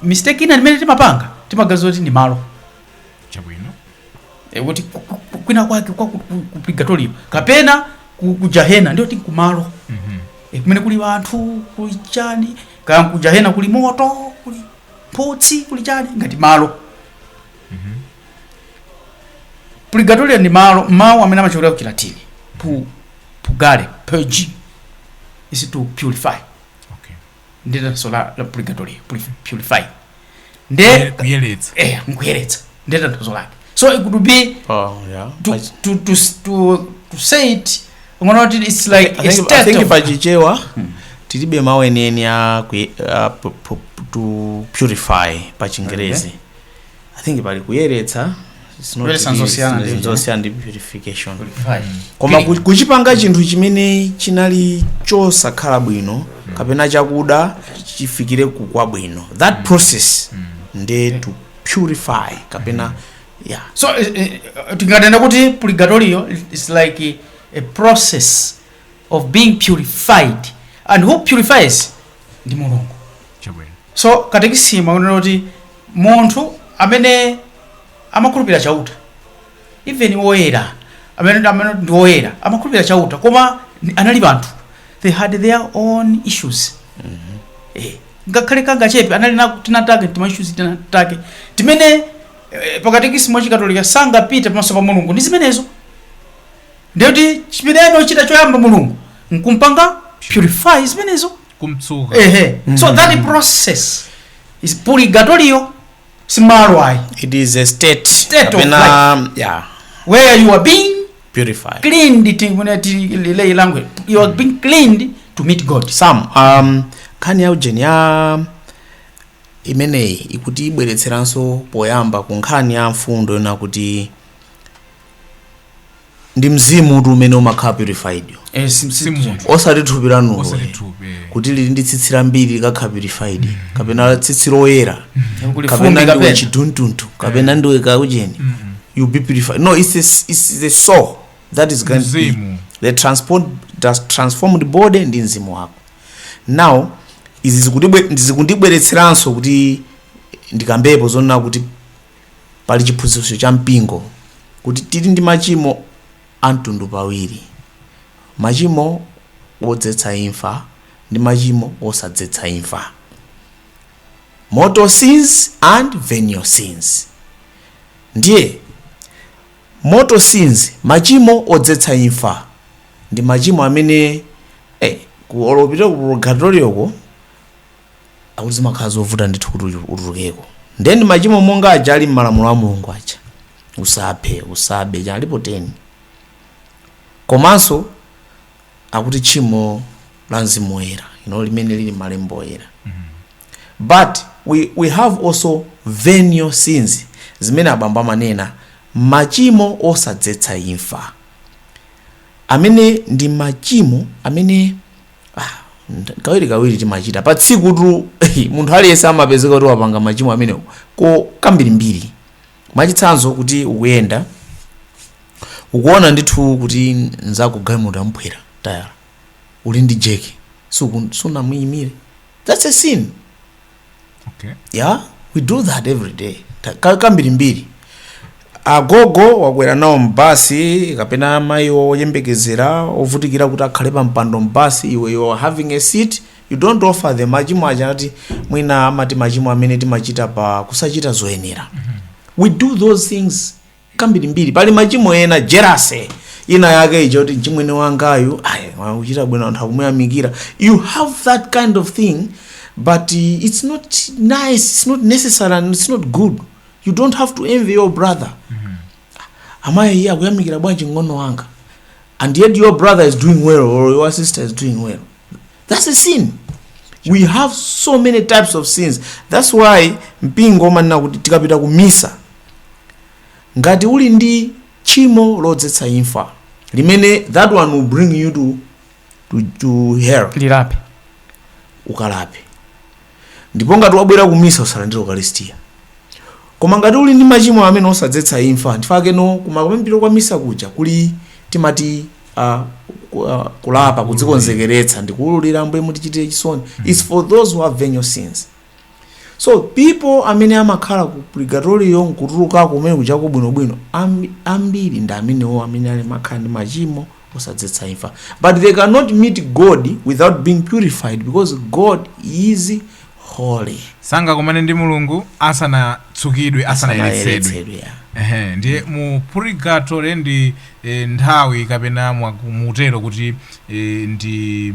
mistake ina imene timapanga timaganiza kuti ndi malo chabwino e, kuti ku- ku- ku- kwina kwake kwa ku- ku- ku purgatorio kapena ku, ku jahena ndiye kuti kumalo Mhm. e, kumene kuli anthu kuli chani kaya ku jahena kuli moto kuli mphutsi kuli chani ngati malo purgatorio ndi malo mawu amene amachokera ku chilatini pu purgare purge is to purify nde tanthauzo la, la purgatory purif- purify nde Kuye- kuyeretsa eh, nkuyeretsa nde tanthauzo lake so it could be oh yeah to, I- to, to, to, to say it ngono kuti it's like I a think, I state think of- pachichewa tilibe mawu enieni a kuye- a pu- pu- to purify pa chingerezi I think pali kuyeretsa it's not Kuyeretsa really- nzosiyana ndi- nzosiyana ndi purification Purify. koma ku- kuchipanga chinthu chimene chinali chosakhala bwino kapena chakuda chifikire ku kwabwino that process nde to purify kapena yeah so eh, eh, tinganene kuti purgatorio is like eh, a process of being purified and who purifies ndi mulungu chabwino So katekisimu akunena kuti munthu amene amakhulupirira Chauta even woyera amene amene ndi woyera amakhulupirira Chauta koma ni- anali anthu they had their own issues eh, ngakhale kangachepe anali na tinatake tima issues tinatake timene eh, pakatekisimu wachikatolika sangapite pamaso pa mulungu ndi zimenezo ndiye kuti chimene amachita choyamba mulungu nkumpanga purify zimenezo kumtsuka ehe so that process is purgatorio si malo ayi it is a state State of kapena yeah where you are being purified cleaned tinganene m'lay language you are being cleaned to meet god sam um, nkhani ya ujeni ya imeneyi ikuti ibweretseranso poyamba ku nkhani ya mfundo yonena kuti ndi mzimu uti umene umakhala purifiedwo eh, si- si munthu osati thupi lanuli osati eh. thupi eh. kuti lili ndi tsitsi lambiri likakhala purified kapena tsitsi loyera Kuli kapena fumbi ndiwe kapena. chiduntuntu kapena ndiwe kaujeni you be purified no it's, a, it's the soul that is going to be Mzimu. the transport, does transformed body ndi mzimu wako now izi zikundibwe- zikundibweretseranso kuti ndikambepo zonena kuti Pali chiphunzitso cha mpingo kuti tili ndi machimo a mitundu pawiri, machimo odzetsa imfa ndi machimo osadzetsa imfa, mortal sins and venial sins. Ndiye mortal sins, machimo odzetsa imfa, ndi machimo amene eh, ukalowa kupita ku purgatorioko akuti zimakhala zovuta ndithu kuti uyu- utulukeko ndiye ndi machimo monga aja ali m'malamulo a mulungu aja usaphe usabe aja alipo 10 komanso akuti tchimo la mzimu woyera you know, limene lili m'malembo oyera but we, we have also venial sins zimene abambo amanena machimo osadzetsa imfa amene ndi machimo amene Ah, kawiri kawiri timachita pa tsiku tu munthu aliyense amapezeka kuti wapanga machimo amene ko kambirimbiri mwachitsanzo kuti ukuyenda ukuona ndithu kuti nzako galimoto yamphwera tayala uli ndi jeki sunamuyimire that's a sin Okay. yeah we do that every day Ta- ka- kambirimbiri agogo wakwera nawo mbasi kapena amayi oyembekezera akuvutikira kuti akhale pa mpando mbasi iwe you are having a seat you don't offer them machimo aja ati mwina amati machimo amene timachita pa kusachita zoyenera we do those things kambirimbiri pali machimo ena jelasi ina yake ija kuti mchimwene wangayu ayi akuchita bwino anthu akumuyamikira you have that kind of thing but uh, it's not nice it's not necessary and it's not good you don't have to envy your brother amayi iye akuyamikira bwanji mng'ono wanga and yet your brother is doing well or your sister is doing well that's a sin we have so many types of sins that's why mpingo umanena kuti tikapita ku misa ngati uli ndi tchimo lodzetsa imfa limene that one will bring you to, to, to hell lilape ukalape ndipo ngati wabwera ku misa usalandire ukalistia koma ngati uli ndi machimo amene osadzetsa imfa nchifukwa chakeno kumapemphero kwa misa kuja kuli timati uh, ku- uh, kulapa kudzikonzekeretsa ndikuulula ambuye mutichitire chisoni its for those who have venial sins so people amene amakhala ku purgatorio nkutulukako kumene kuchako bwinobwino ambi- ambiri ndi amenewo amene ali makhala ndi machimo osadzetsa imfa but they cannot meet god without being purified because god is holy sangakumane ndi mulungu asanatsukidwe asanayeretsedwe Asanayeretsedwe, yeah. Ehe, ndiye mu purigatori ndi eh, nthawi kapena mwa- mutero kuti eh, ndi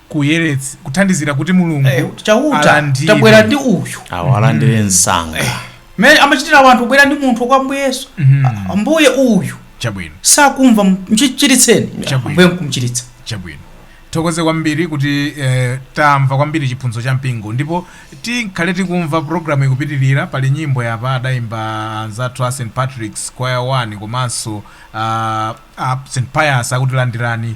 kuyeretsa kuthandizira kuti mulungu Eh, kuti chauta alandire. tabwera ndi uyu awalandire msanga mene amachitira wanthu kubwera ndi munthu kwa ambuye yesu Mhm. Ah, ambuye uyu chabwino sakumva mchiritseni Chabwino. ambuye nkumchiritsa chabwino tithokoze kwambiri kuti eh, tamva kwambiri chiphunzitso cha mpingo ndipo tikhale tikumva programu ikupitirira pali nyimbo yapa adayimba anzathu a st patrick's choir 1 komanso uh, a st pius akuti landirani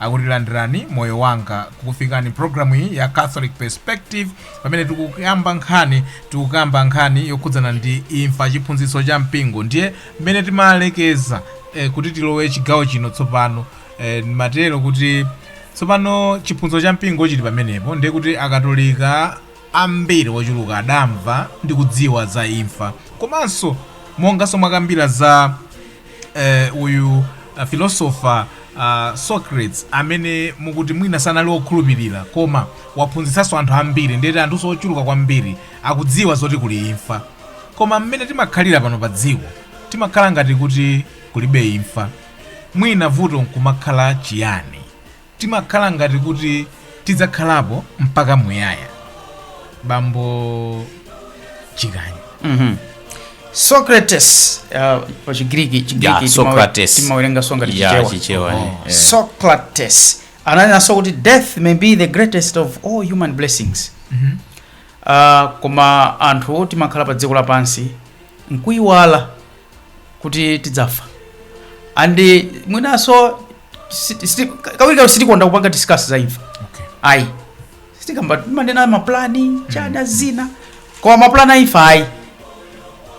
akuti landirani moyo wanga ikukufikani programu iyi ya catholic perspective pamene tikukamba nkhani tikukamba nkhani yokhudzana ndi imfa chiphunzitso cha mpingo ndiye mmene timalekeza eh, kuti tilowe chigawo chino tsopano eh, matero kuti tsopano chiphunzitso cha mpingo chili pamenepo ndiye kuti akatolika ambiri ochuluka adamva ndi kudziwa za imfa komanso monganso mwakambira za eh, uyu uh, philosopher uh, socrates amene mukuti mwina sanali wokhulupirira koma waphunzitsanso anthu ambiri ndiyeti anthu ochuluka kwambiri akudziwa zoti kuli imfa koma mmene timakhalira pano pa dziko timakhala ngati kuti kulibe imfa mwina vuto nkumakhala chiyani Timakhala ngati kuti tidzakhalapo mpaka muyaya. Bambo Chikanya. Mhm. Socrates uh, pa Chigiriki Yeah, Chigiriki Socrates. timawerenga songa Yeah, tichichewa. chichewa, Oh. eh. Socrates ananenanso kuti death may be the greatest of all human blessings. Mhm. Uh, koma anthu timakhala pa dziko lapansi nkuyiwala kuti tidzafa and mwinanso si- si- kawirikawiri sitikonda kupanga discuss za imfa Okay. ayi sitikamba manena maplani chani zina koma maplani a imfa ayi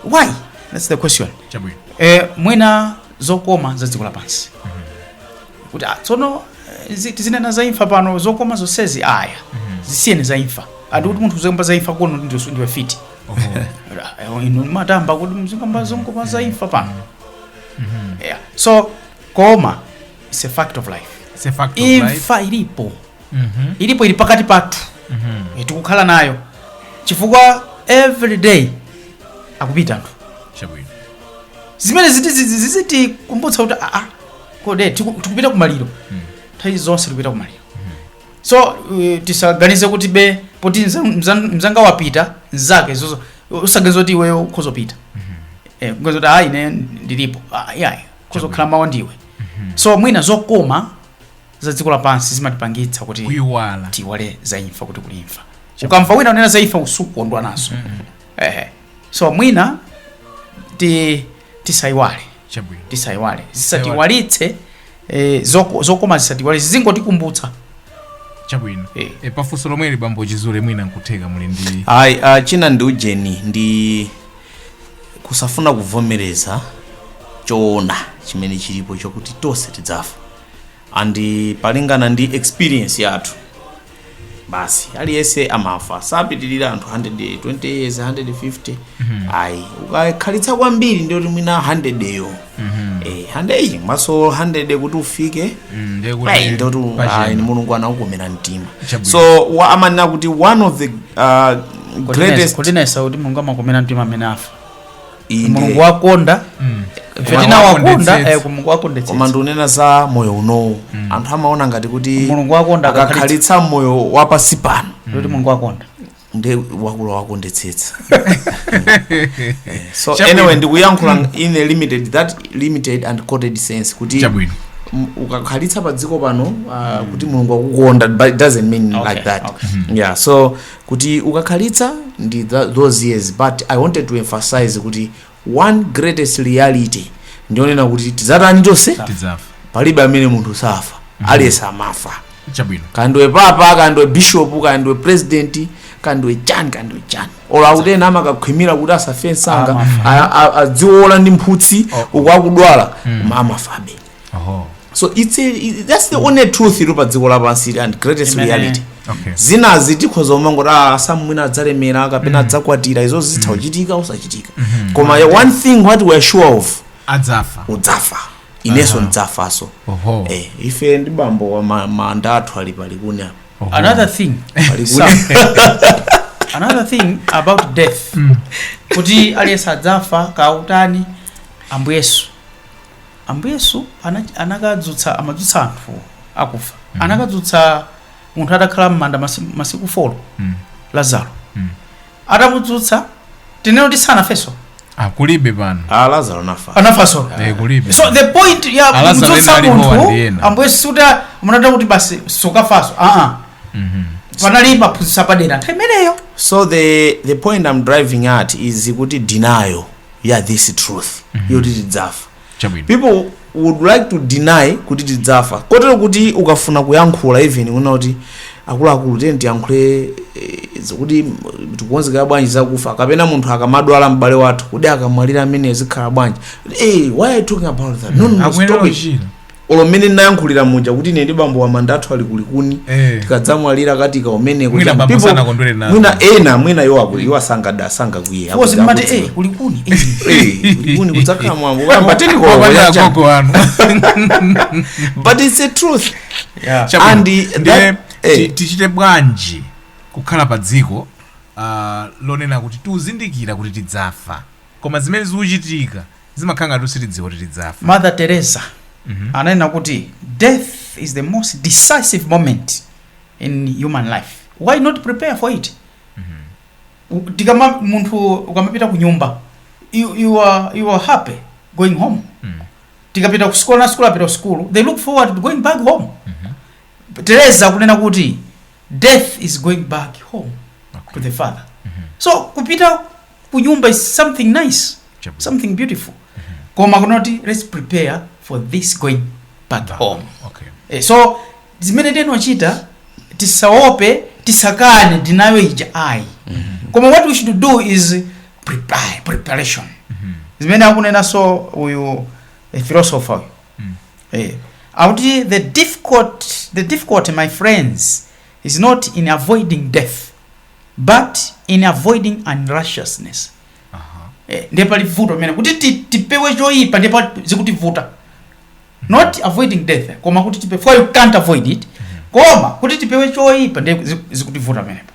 why that's the question Chabwino. eh, mwina zokoma za dziko lapansi kuti ah, tsono eh, zi- tizinena za imfa pano zokoma zonsezi aya zisiyeni za imfa andi kuti munthu uzikamba za imfa kuno ndiwe mfiti Ra- eh, inu mukhutamba kuti muzikamba zokoma za imfa pano yeah. so koma its a fact of life It's a fact of life. imfa ilipo Mhm. ilipo ili pakati pathu Mhm. Eh, tikukhala nayo chifukwa every day akupita anthu Chabwino. zimene ziti- zi- zi- zizitikumbutsa kuti aa kode tiku- tikupita kumaliro nthawi zonse tikupita kumaliro so uh, tisaganize kuti be poti mza- mza- mzanga wapita mzake zozo usaganize kuti iweyo ukhoza kupita eh, uganize kuti ayi ne ndilipo Ah, yayi ukhoza kukhala mawa ndiwe so mwina zokoma za dziko lapansi zimatipangitsa kuti kuiwala tiiwale za imfa kuti kuli imfa ukamva wina unena za imfa usukondwa nazo ehe so mwina ti tisaiwale chabwino tisaiwale zisatiiwalitse eh, zoko- zokoma zisatiiwalitse zizingotikumbutsa chabwino Eh. e, pafunso lomweli bambo chizule mwina nkutheka muli ndi ayi ah, china ndi ujeni ndi kusafuna kuvomereza choona chimene chilipo chokuti tonse tidzafa and polingana ndi experience yathu basi aliyense amafa sapitirira anthu 120 years 150 ayi ukakhalitsa kwambiri ndiye kuti mwina 100 yo Eh, 100 iyi mwinanso 100 kuti ufike Mm, ndiye kuti Right, ndoti pachena. ayi, ndi mulungu anakukomera mtima Chabwino. so wa- amanena kuti one of the uh, greatest kutinenetsa kuti mulungu amakomera mtima amene afa Inde. mulungu wakonda ife Mulungu tinawakonda wakondetsetsa. eh, mulungu koma wakondetsetsa ndikunena za moyo unowu anthu amaona ngati kuti Mulungu wakonda ukakhalitsa moyo wapansi pano kuti mulungu wakonda ndi wakula wakondetsetsa Eh, so Chabwino. anyway ndikuyankhula in a limited that limited and coded sense kuti chabwino m- ukakhalitsa pa dziko pano uh, kuti mulungu wakukonda but it doesn't mean Okay, like that okay. yeah so kuti ukakhalitsa ndi tha- those years but i wanted to emphasize kuti one greatest reality ndi yonena kuti tidzatani tonse tidzafa palibe amene munthu saafa aliyense amafa chabwino kaya ndiwe papa kaya ndiwe bishop kaya ndiwe president kaya ndiwe chani kaya ndiwe chani olo akuti ena amakakhwimira kuti asafe msanga a- a- adziwola ndi mphutsi uku akudwala koma amafabe Oho. so it's a, it- that's the only truth iri padziko lapansi and greatest Imene- reality Okay. zinazi tikhoza kumangoti ah, sam mwina adzalemera kapena adzakwatira izo zitha kuchitika kusachitika koma one thing what we are sure of adzafa udzafa inenso ndidzafanso Oho. eh, ife ndi bambo wa ma- manda athu ali pa Likuni apa Oho. another thing pa Likuni Sam, another thing about death kuti aliyense adzafa kutani Ambuye Yesu Ambuye Yesu ana- anakadzutsa amadzutsa anthu akufa Mhm. anakadzutsa munthu atakhala m'manda masi- masiku folo Mm. lazaro Mm. atamudzutsa tinene kuti sanafenso Ah, kulibe pano a lazaro anafa anafanso Eh, kulibe so the point ya Alazaro kumdzutsa ena alipo munthu ndi ena. ambuye Yesu sikuti anamuuza kuti basi sukafanso aa Mhm. panali maphunzitso padera nthawi imeneyo so the the point i'm driving at is kuti denial ya this truth yoti tidzafa Chabwino. people would like to deny kuti tidzafa kotero kuti ukafuna kuyankhula even una kuti akuluakulu tiyeni tiyankhule eh, zikuti mm, tikonzekera bwanji zakufa kapena munthu akamadwala m'bale wathu kuti akamwalira ameneyu zikhala bwanji hey, why are you talking about that no, no, no, akuyenera stop it. kuchira olo mmene ndinayankhulira muja kuti ine ndi bambo wa manda athu ali kulikuni Eh. tikadzamwalira katiika kumeneko Mwina Chani bambo people- sanakondwere nazo. mwina ena mwina iwo akuli iwo asanga asangakwiye Was mmati eh kulikuni. Eh, kulikuni kudzakhala mwambo wamba tendiko Wapanda wacha. agogo wanu but it's a truth Yeah. Chabwino. And the- Ndiye that- eh. ti- tichite bwanji kukhala pa dziko ah, lonena kuti tikuzindikira kuti tidzafa koma zimene zikuchitika zimakhala ngati sitidziwa kuti tidzafa mother teresa ananena kuti death is the most decisive moment in human life why not prepare for it U- tikama munthu ukamapita ku nyumba you, you, are, you are happy going home Mm. tikapita ku school ana a school apita ku school they look forward to going back home teresa kunena kuti death is going back home to the father so kupita kunyumba is something nice Chabwino. something beautiful koma kunoti let's prepare for this going back home okay Eh, so zimene tinochita tisaope tisakane ndinayo ija ayi koma what we should do is prepare preparation zimene akunenanso uyu eh, philosopher uyu Mm. eh, akuti the difficult the difficulty my friends is not in avoiding death but in avoiding unrighteousness eh, ndiye pali vuto pamenepa kuti ti- tipewe choyipa ndiye zikutivuta not avoiding death eh, koma kuti tipe for you can't avoid it koma kuti tipewe choyipa ndiye zi- zikutivuta pamenepo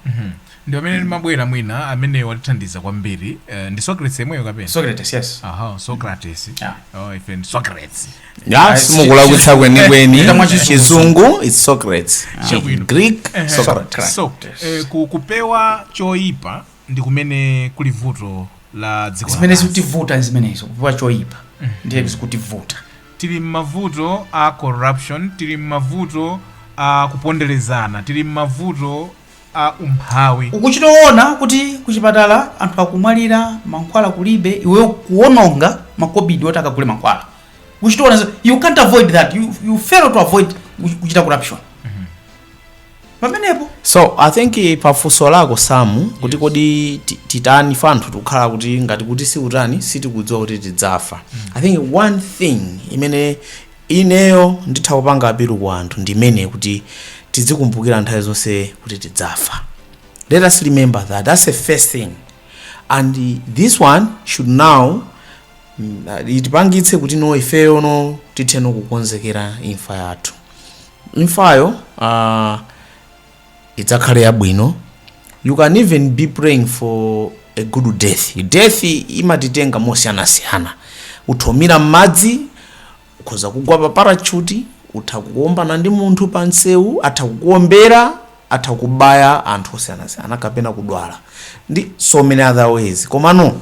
ndi pamene ndimabwera mwina amene watithandiza kwambiri eh, ndi socrates yemweyo kapena socrates yes aha socrates Yeah. oh, ife ndi socrates Ah, simukulakwitsa kwenikweni Ita mwachizungu. chizungu it's socrates Chabwino. greek Eh, socrates so eh, ku- kupewa choyipa ndi kumene kuli vuto la dziko zimene lapansi. zikutivuta ndi zimenezo kupewa choyipa ndiye zikutivuta tili mmavuto a corruption tili mmavuto a kuponderezana tili mmavuto a umphawi. Ukuchita kuona kuti kuchipatala anthu akumwalira mankhwala kulibe iweyo kuwononga makobidi oti akagule mankhwala ukuchita kuona you can't avoid that you, you fail to avoid kuchita corruption pamenepo so i think eh, pafunso lako samu kuti kodi ti- titani ife anthu tikukhala kuti ngati kuti sitikutani sitikudziwa kuti tidzafa i think one thing imene Ineyo nditha kupanga apilu kwa anthu ndi imene kuti tidzikumbukira nthawi zonse kuti tidzafa let us remember that that's the first thing and this one should now itipangitse kuti no ifeyo no tithe no kukonzekera imfa yathu imfayo uh, idzakhale yabwino you can even be praying for a good death death imatitenga mosiyanasiyana utha kumira m'madzi ukhoza kugwa pa parachuti utha kuombana ndi munthu pa msewu atha kukuombera atha kukubaya anthu osiyanasiyana kapena kudwala ndi so many other ways komano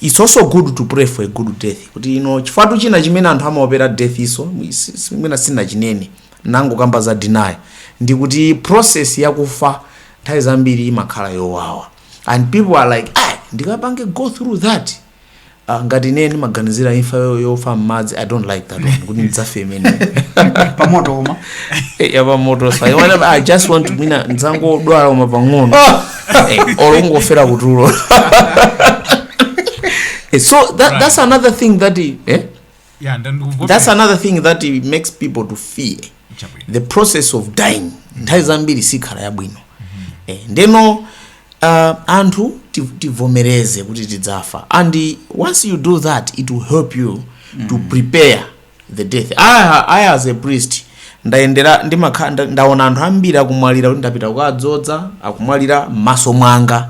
Its also good to pray for a good death kuti you know chifukwatu china chimene anthu amaopera death iso mwina sindinachinene ndangokamba za denial ndikuti process yakufa nthawi zambiri imakhala yowawa and people are like ah ndikapange go through that uh, ngati ine ndimaganizira imfa yo- yofa mmadzi i don't like that one kuti ndidzafe imeneyo pamoto koma yapamoto so i just want to mina ndidzangodwala uma pang'ono Eh, or ungofera kutulo Eh, so that, that's another thing that i- eh? yeah ndandikuvote that's another thing that i- makes people to fear chabwino the process of dying nthawi zambiri sikhala yabwino eh, ndeno uh, anthu ti- tivomereze kuti tidzafa and once you do that it will help you to prepare the death I, I as a priest ndayendera ndimakha- nda- ndaona anthu ambiri akumwalira kuti ndapita kukadzodza akumwalira m'maso mwanga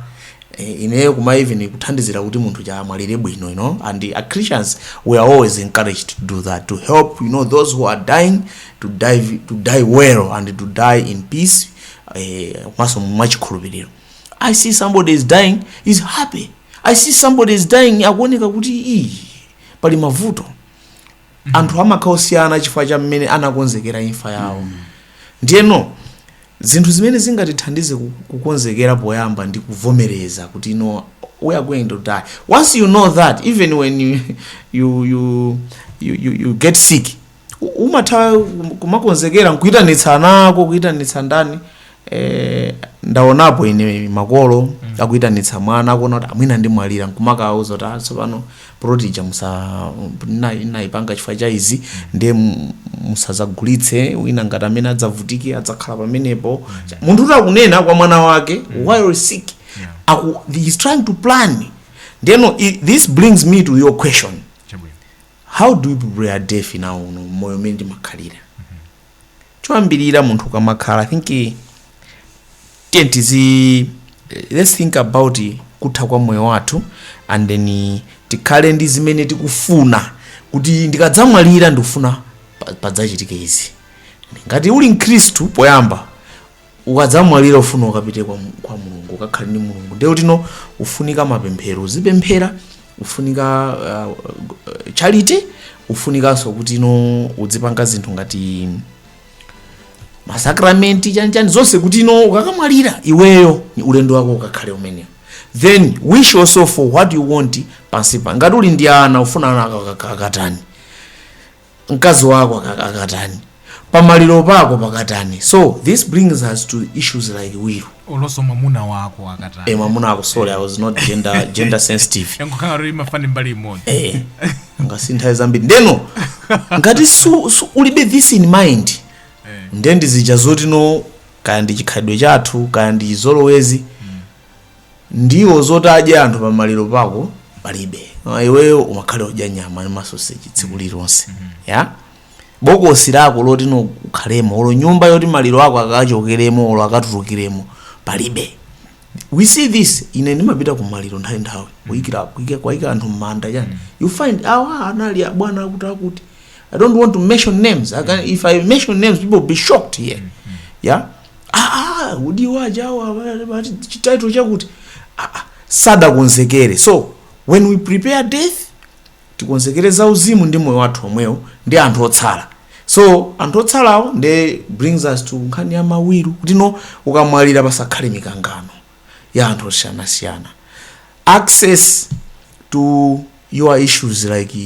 Eh, ineyo kuma even kuthandizira kuti munthu uja amwalire bwino you know and as christians we are always encouraged to do that to help you know those who are dying to die, to die well and to die in peace eh, komanso mwachikhulupiriro i see somebody is dying is happy i see somebody is dying akuoneka kuti iyi pali mavuto anthu amakhala osiyana chifukwa cha mmene anakonzekera imfa yawo ndiyeno zinthu zimene zingatithandize ku- kukonzekera poyamba ndi kuvomereza kuti you know we are going to die once you know that even when you, you, you, you, you, you get sick u- umatha kum- kumakonzekera nkuyitanitsa ana ako kuyitanitsa ndani eh, ndaonapo ine makolo akuitanitsa mwana akuona kuti ah mwina ndimwalira nkumawauza kuti "Ah, tsopano ploti ija musa na- ndaipanga chifukwa cha izi ndiye mu- musazagulitse wina ngati amene adzavutike adzakhala pamenepo munthu uja akunena kwa mwana wake while sick aku, he is trying to plan ndeno i- this brings me to your question chabwino how do we prepare death now m'moyo umene ndimakhalira choyambirira munthu ukamakhala i think eh, tiye tizi eh, let's think about eh, kutha kwa moyo wathu and then eh, tikhale ndi zimene tikufuna kuti ndikadzamwalira ndikufuna pa- padzachitike izi ngati uli mkhristu poyamba ukadzamwalira ufuna ukapite kwa, Mu- kwa mulungu ukakhale ndi mulungu ndiye kuti no ufunika mapemphero uzipemphera ufunika uh, uh, charity ufunikanso kuti no udzipanga zinthu ngati masakramenti chanchani zonse kuti no ukakamwalira iweyo ulendo wako ukakhale umenewo then wish also for what you want pansipa ngati uli ndi ana ufuna ana akatani mkazi wako aka- akatani pamaliro pako pakatani so this brings us to issues like will olonso mwamuna wako e akatani mwamuna ako sorry i was not gender, gender sensitive yankukhala kuti imafani mbali imodzi eh ngati nthawi zambiri ndeno ngati su, su, ulibe this in mind Eh. nde ndizija zoti no kaya ndi chikhalidwe chathu kaya ndi chizolowezi Ndiwo zoti adye anthu pamaliro pako palibe. Ah, Iweyo umakhale odya nyama ndi masoseji tsiku lililonse. Ya? Bokosi lako loti ukhalemo olo nyumba yoti maliro ako akachokeremo olo akatulukiremo palibe. We see this ine ndimapita ku maliro nthawi nthawi kuyikira kuyika kuyika anthu mmanda chani. You find awa anali abwana akuti akuti. I don't want to mention names. I can, if I mention names people will be shocked here. Yeah? aa kuti achina awa chi title chakuti aa sadakonzekere so when we prepare death tikonzekere za uzimu ndi moyo wathu omwewo ndi anthu otsala so anthu otsalawo nde brings us to nkhani ya ma will kuti no ukamwalira pasakhale mikangano ya anthu osiyanasiyana access to your issues like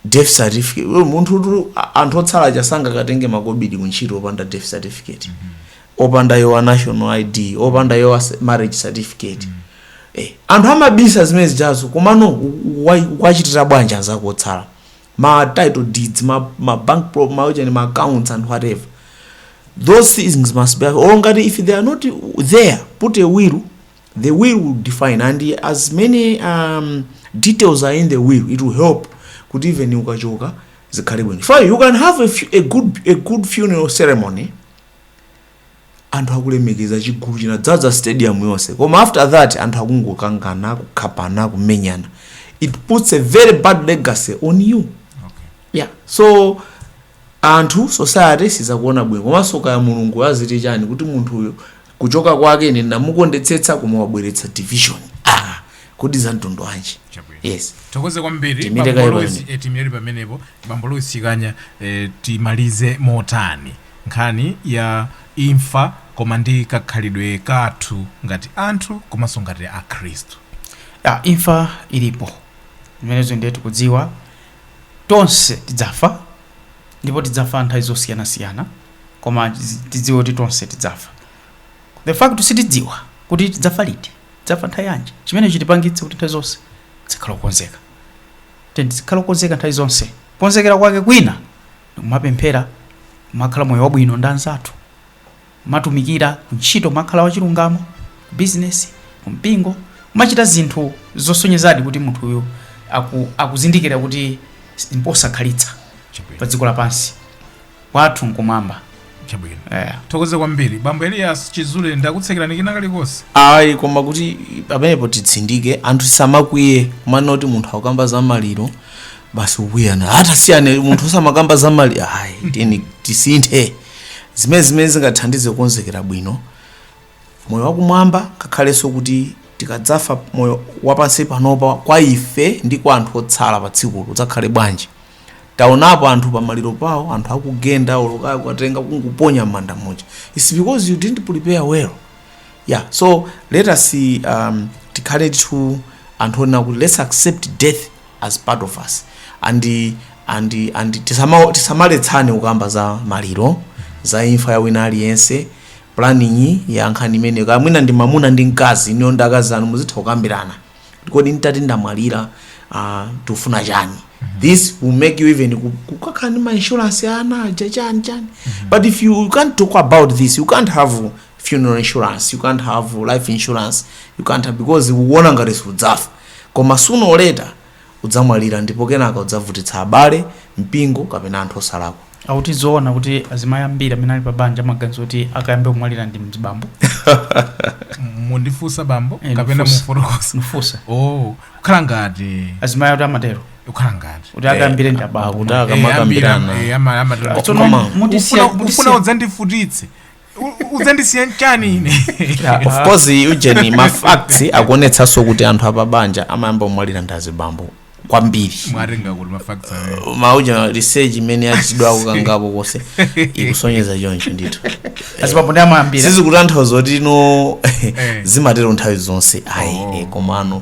death certificate munthu tu anthu otsala aja sangakatenge makobidi kuntchito opanda death certificate opanda your national id opanda your se- marriage certificate eh, anthu amabisa zimene zijazo komano u- u- wa- wachitira bwanji anzako otsala ma title deeds ma, ma bank pro, ma, ujani, ma accounts and whatever those things must be or ngati if they are not there put a will The will will define and as many um, details are in the will it will help kuti even ukachoka zikhale bwino chifukwa you can have a, fu- a, good, a good funeral ceremony anthu akulemekeza chigulu chinadzaza stadium yonse koma after that anthu akungokangana kukhapana kumenyana it puts a very bad legacy on you okay. yeah so anthu society sidzakuona bwino komanso kaya mulungu aziti chani kuti munthu uyu kuchoka kwake ine ndinamukondetsetsa koma wabweretsa division ah kodi za mtundu wanji Chabwino. yes tithokoze kwambiri Tiimire kaye bambo Lozi pamene. tiimire pamenepo bambo Lozi Chikanya eh, timalize motani nkhani ya imfa koma ndi kakhalidwe kathu ngati anthu komanso ngati akhristu ah, imfa ilipo zimenezo ndiye tikudziwa tonse tidzafa ndipo tidzafa nthawi zosiyanasiyana koma tizi- tidziwe kuti tonse tidzafa the fact sitidziwa kuti tidzafa liti tidzafa nthawi yanji chimene chitipangitse kuti nthawi zonse tizikhala okonzeka Tiyeni tizikhala okonzeka nthawi zonse konzekera kwake kwina ndikumapemphera kumakhala moyo wabwino ndi anzathu kumatumikira kuntchito kumakhala wachilungamo bizinesi kumpingo kumachita zinthu zosonyezadi kuti munthuyu aku, akuzindikira kuti mposakhalitsa pa dziko lapansi Kwathu nkumwamba. chabwino Yeah. tithokoze kwambiri bambo elias chizule ndakutsekerani kina kalikonse ayi koma kuti pamenepo titsindike anthu asamakwiye kunena kuti munthu akukamba za maliro basi ukuyana hata siyane munthu usamakamba za maliro ayi tiyeni tisinthe zimene zimene zingathandize kukonzekera bwino moyo wakumwamba ngakhalenso kuti tikadzafa moyo wapansi panopa kwa ife ndi kwa anthu otsala pa tsikulo udzakhale bwanji taonapo anthu pamaliro pawo anthu akugenda olo kaya kukutenga kungokuponya m'manda muja its because you didn't prepare well yeah so let us um, tikhaletu anthu onena kuti let's accept death as part of us and and and tisama- tisamaletsane kukamba za maliro za imfa ya wina aliyense planning ya nkhani imeneyo kaya mwina ndi mamuna ndi mkazi inuyo ndi akazi anu muzitha kukambirana kodi nditati ndamwalira ah, tikufuna chani this will make you even ku- kukakhala ndi mainsurance ya ana aja chani chani but if you, you can't talk about this you can't have funeral insurance you can't have life insurance you can't have because ukuona ngati sudzafa koma sooner or later udzamwalira ndipo kenaka udzavutitsa abale, mpingo kapena anthu osalakwa. Akuti zoona kuti azimayi ambiri amene ali pa banja amaganiza kuti akayambe kumwalira ndi mzibambo? mukundifunsa bambo Eh, kapena ndifunsa. mukufotokoza Ndifunsa. oh kukhala ngati Azimayi ati amatero kukhala ngati kuti akayambire ndi abambo. Akuti Eh, akamakambirana. ambiri, eh, ama- amatero. Tsono Koma- mutisiya- Ufuna- ufuna mutisiya- udzandivutitse udzandisiya nchiyani ine Yeah, of course ujeni mafacts akuonetsanso kuti anthu apabanja amayamba kumwalira ndi azibambo kwambiri mwawerenga kuti mafacts ayo mauja research imene yachitidwa kokangapo konse ikusonyeza choncho ndithu azibambo ndi amene amayambira sizikutanthauza kuti no zimatero nthawi zonse ayi Oh. eh, komano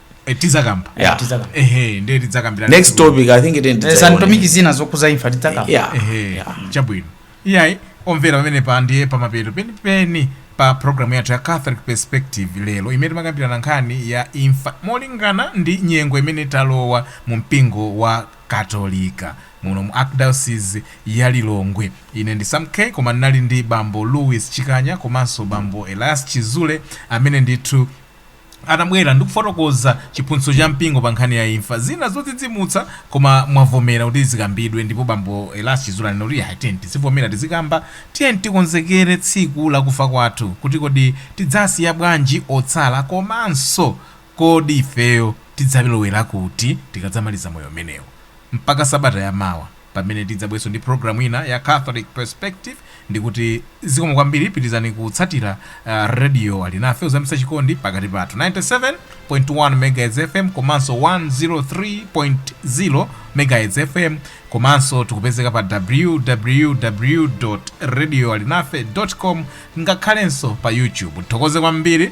Eh, tizakamba Yeah. Tizakamba. ehe ndiye tidzakambirana next topic i think it Eh, ends santomiki zina zokhuza imfa tidzakamba yeah ehe Yeah. chabwino iyayi omvera pamenepa ndiye pamapeto penipeni pa programu yathu ya catholic perspective lero imene timakambirana nkhani ya imfa molingana ndi nyengo imene talowa mu mpingo wa katolika muno mu archdiocese ya lilongwe ine ndi sam k koma ndinali ndi bambo louis chikanya komanso bambo elias chizule amene ndithu anabwera ndi kufotokoza chiphunzitso cha mpingo pa nkhani ya imfa, zina zodzidzimutsa, koma mwavomera kuti zikambidwe ndipo bambo Elias Chizule anena kuti iyayi tiyeni tizivomera tizikamba, tiyeni tikonzekere tsiku la kufa kwathu kuti kodi tidzasiya bwanji otsala komanso kodi ifeyo tidzalowera kuti tikadzamaliza moyo umenewu. Mpaka sabata ya mawa pamene tidzabwerenso ndi program ina ya Catholic Perspective ndikuti zikomo kwambiri pitilizani kutsatila Radio Alinafe kuzamitsa chikondi pakati pathu 97.1 MHz FM komanso 103.0 MHz FM komanso tikupezeka pa www. radioalinafe. com ngakhalenso pa YouTube nthokoze kwambiri.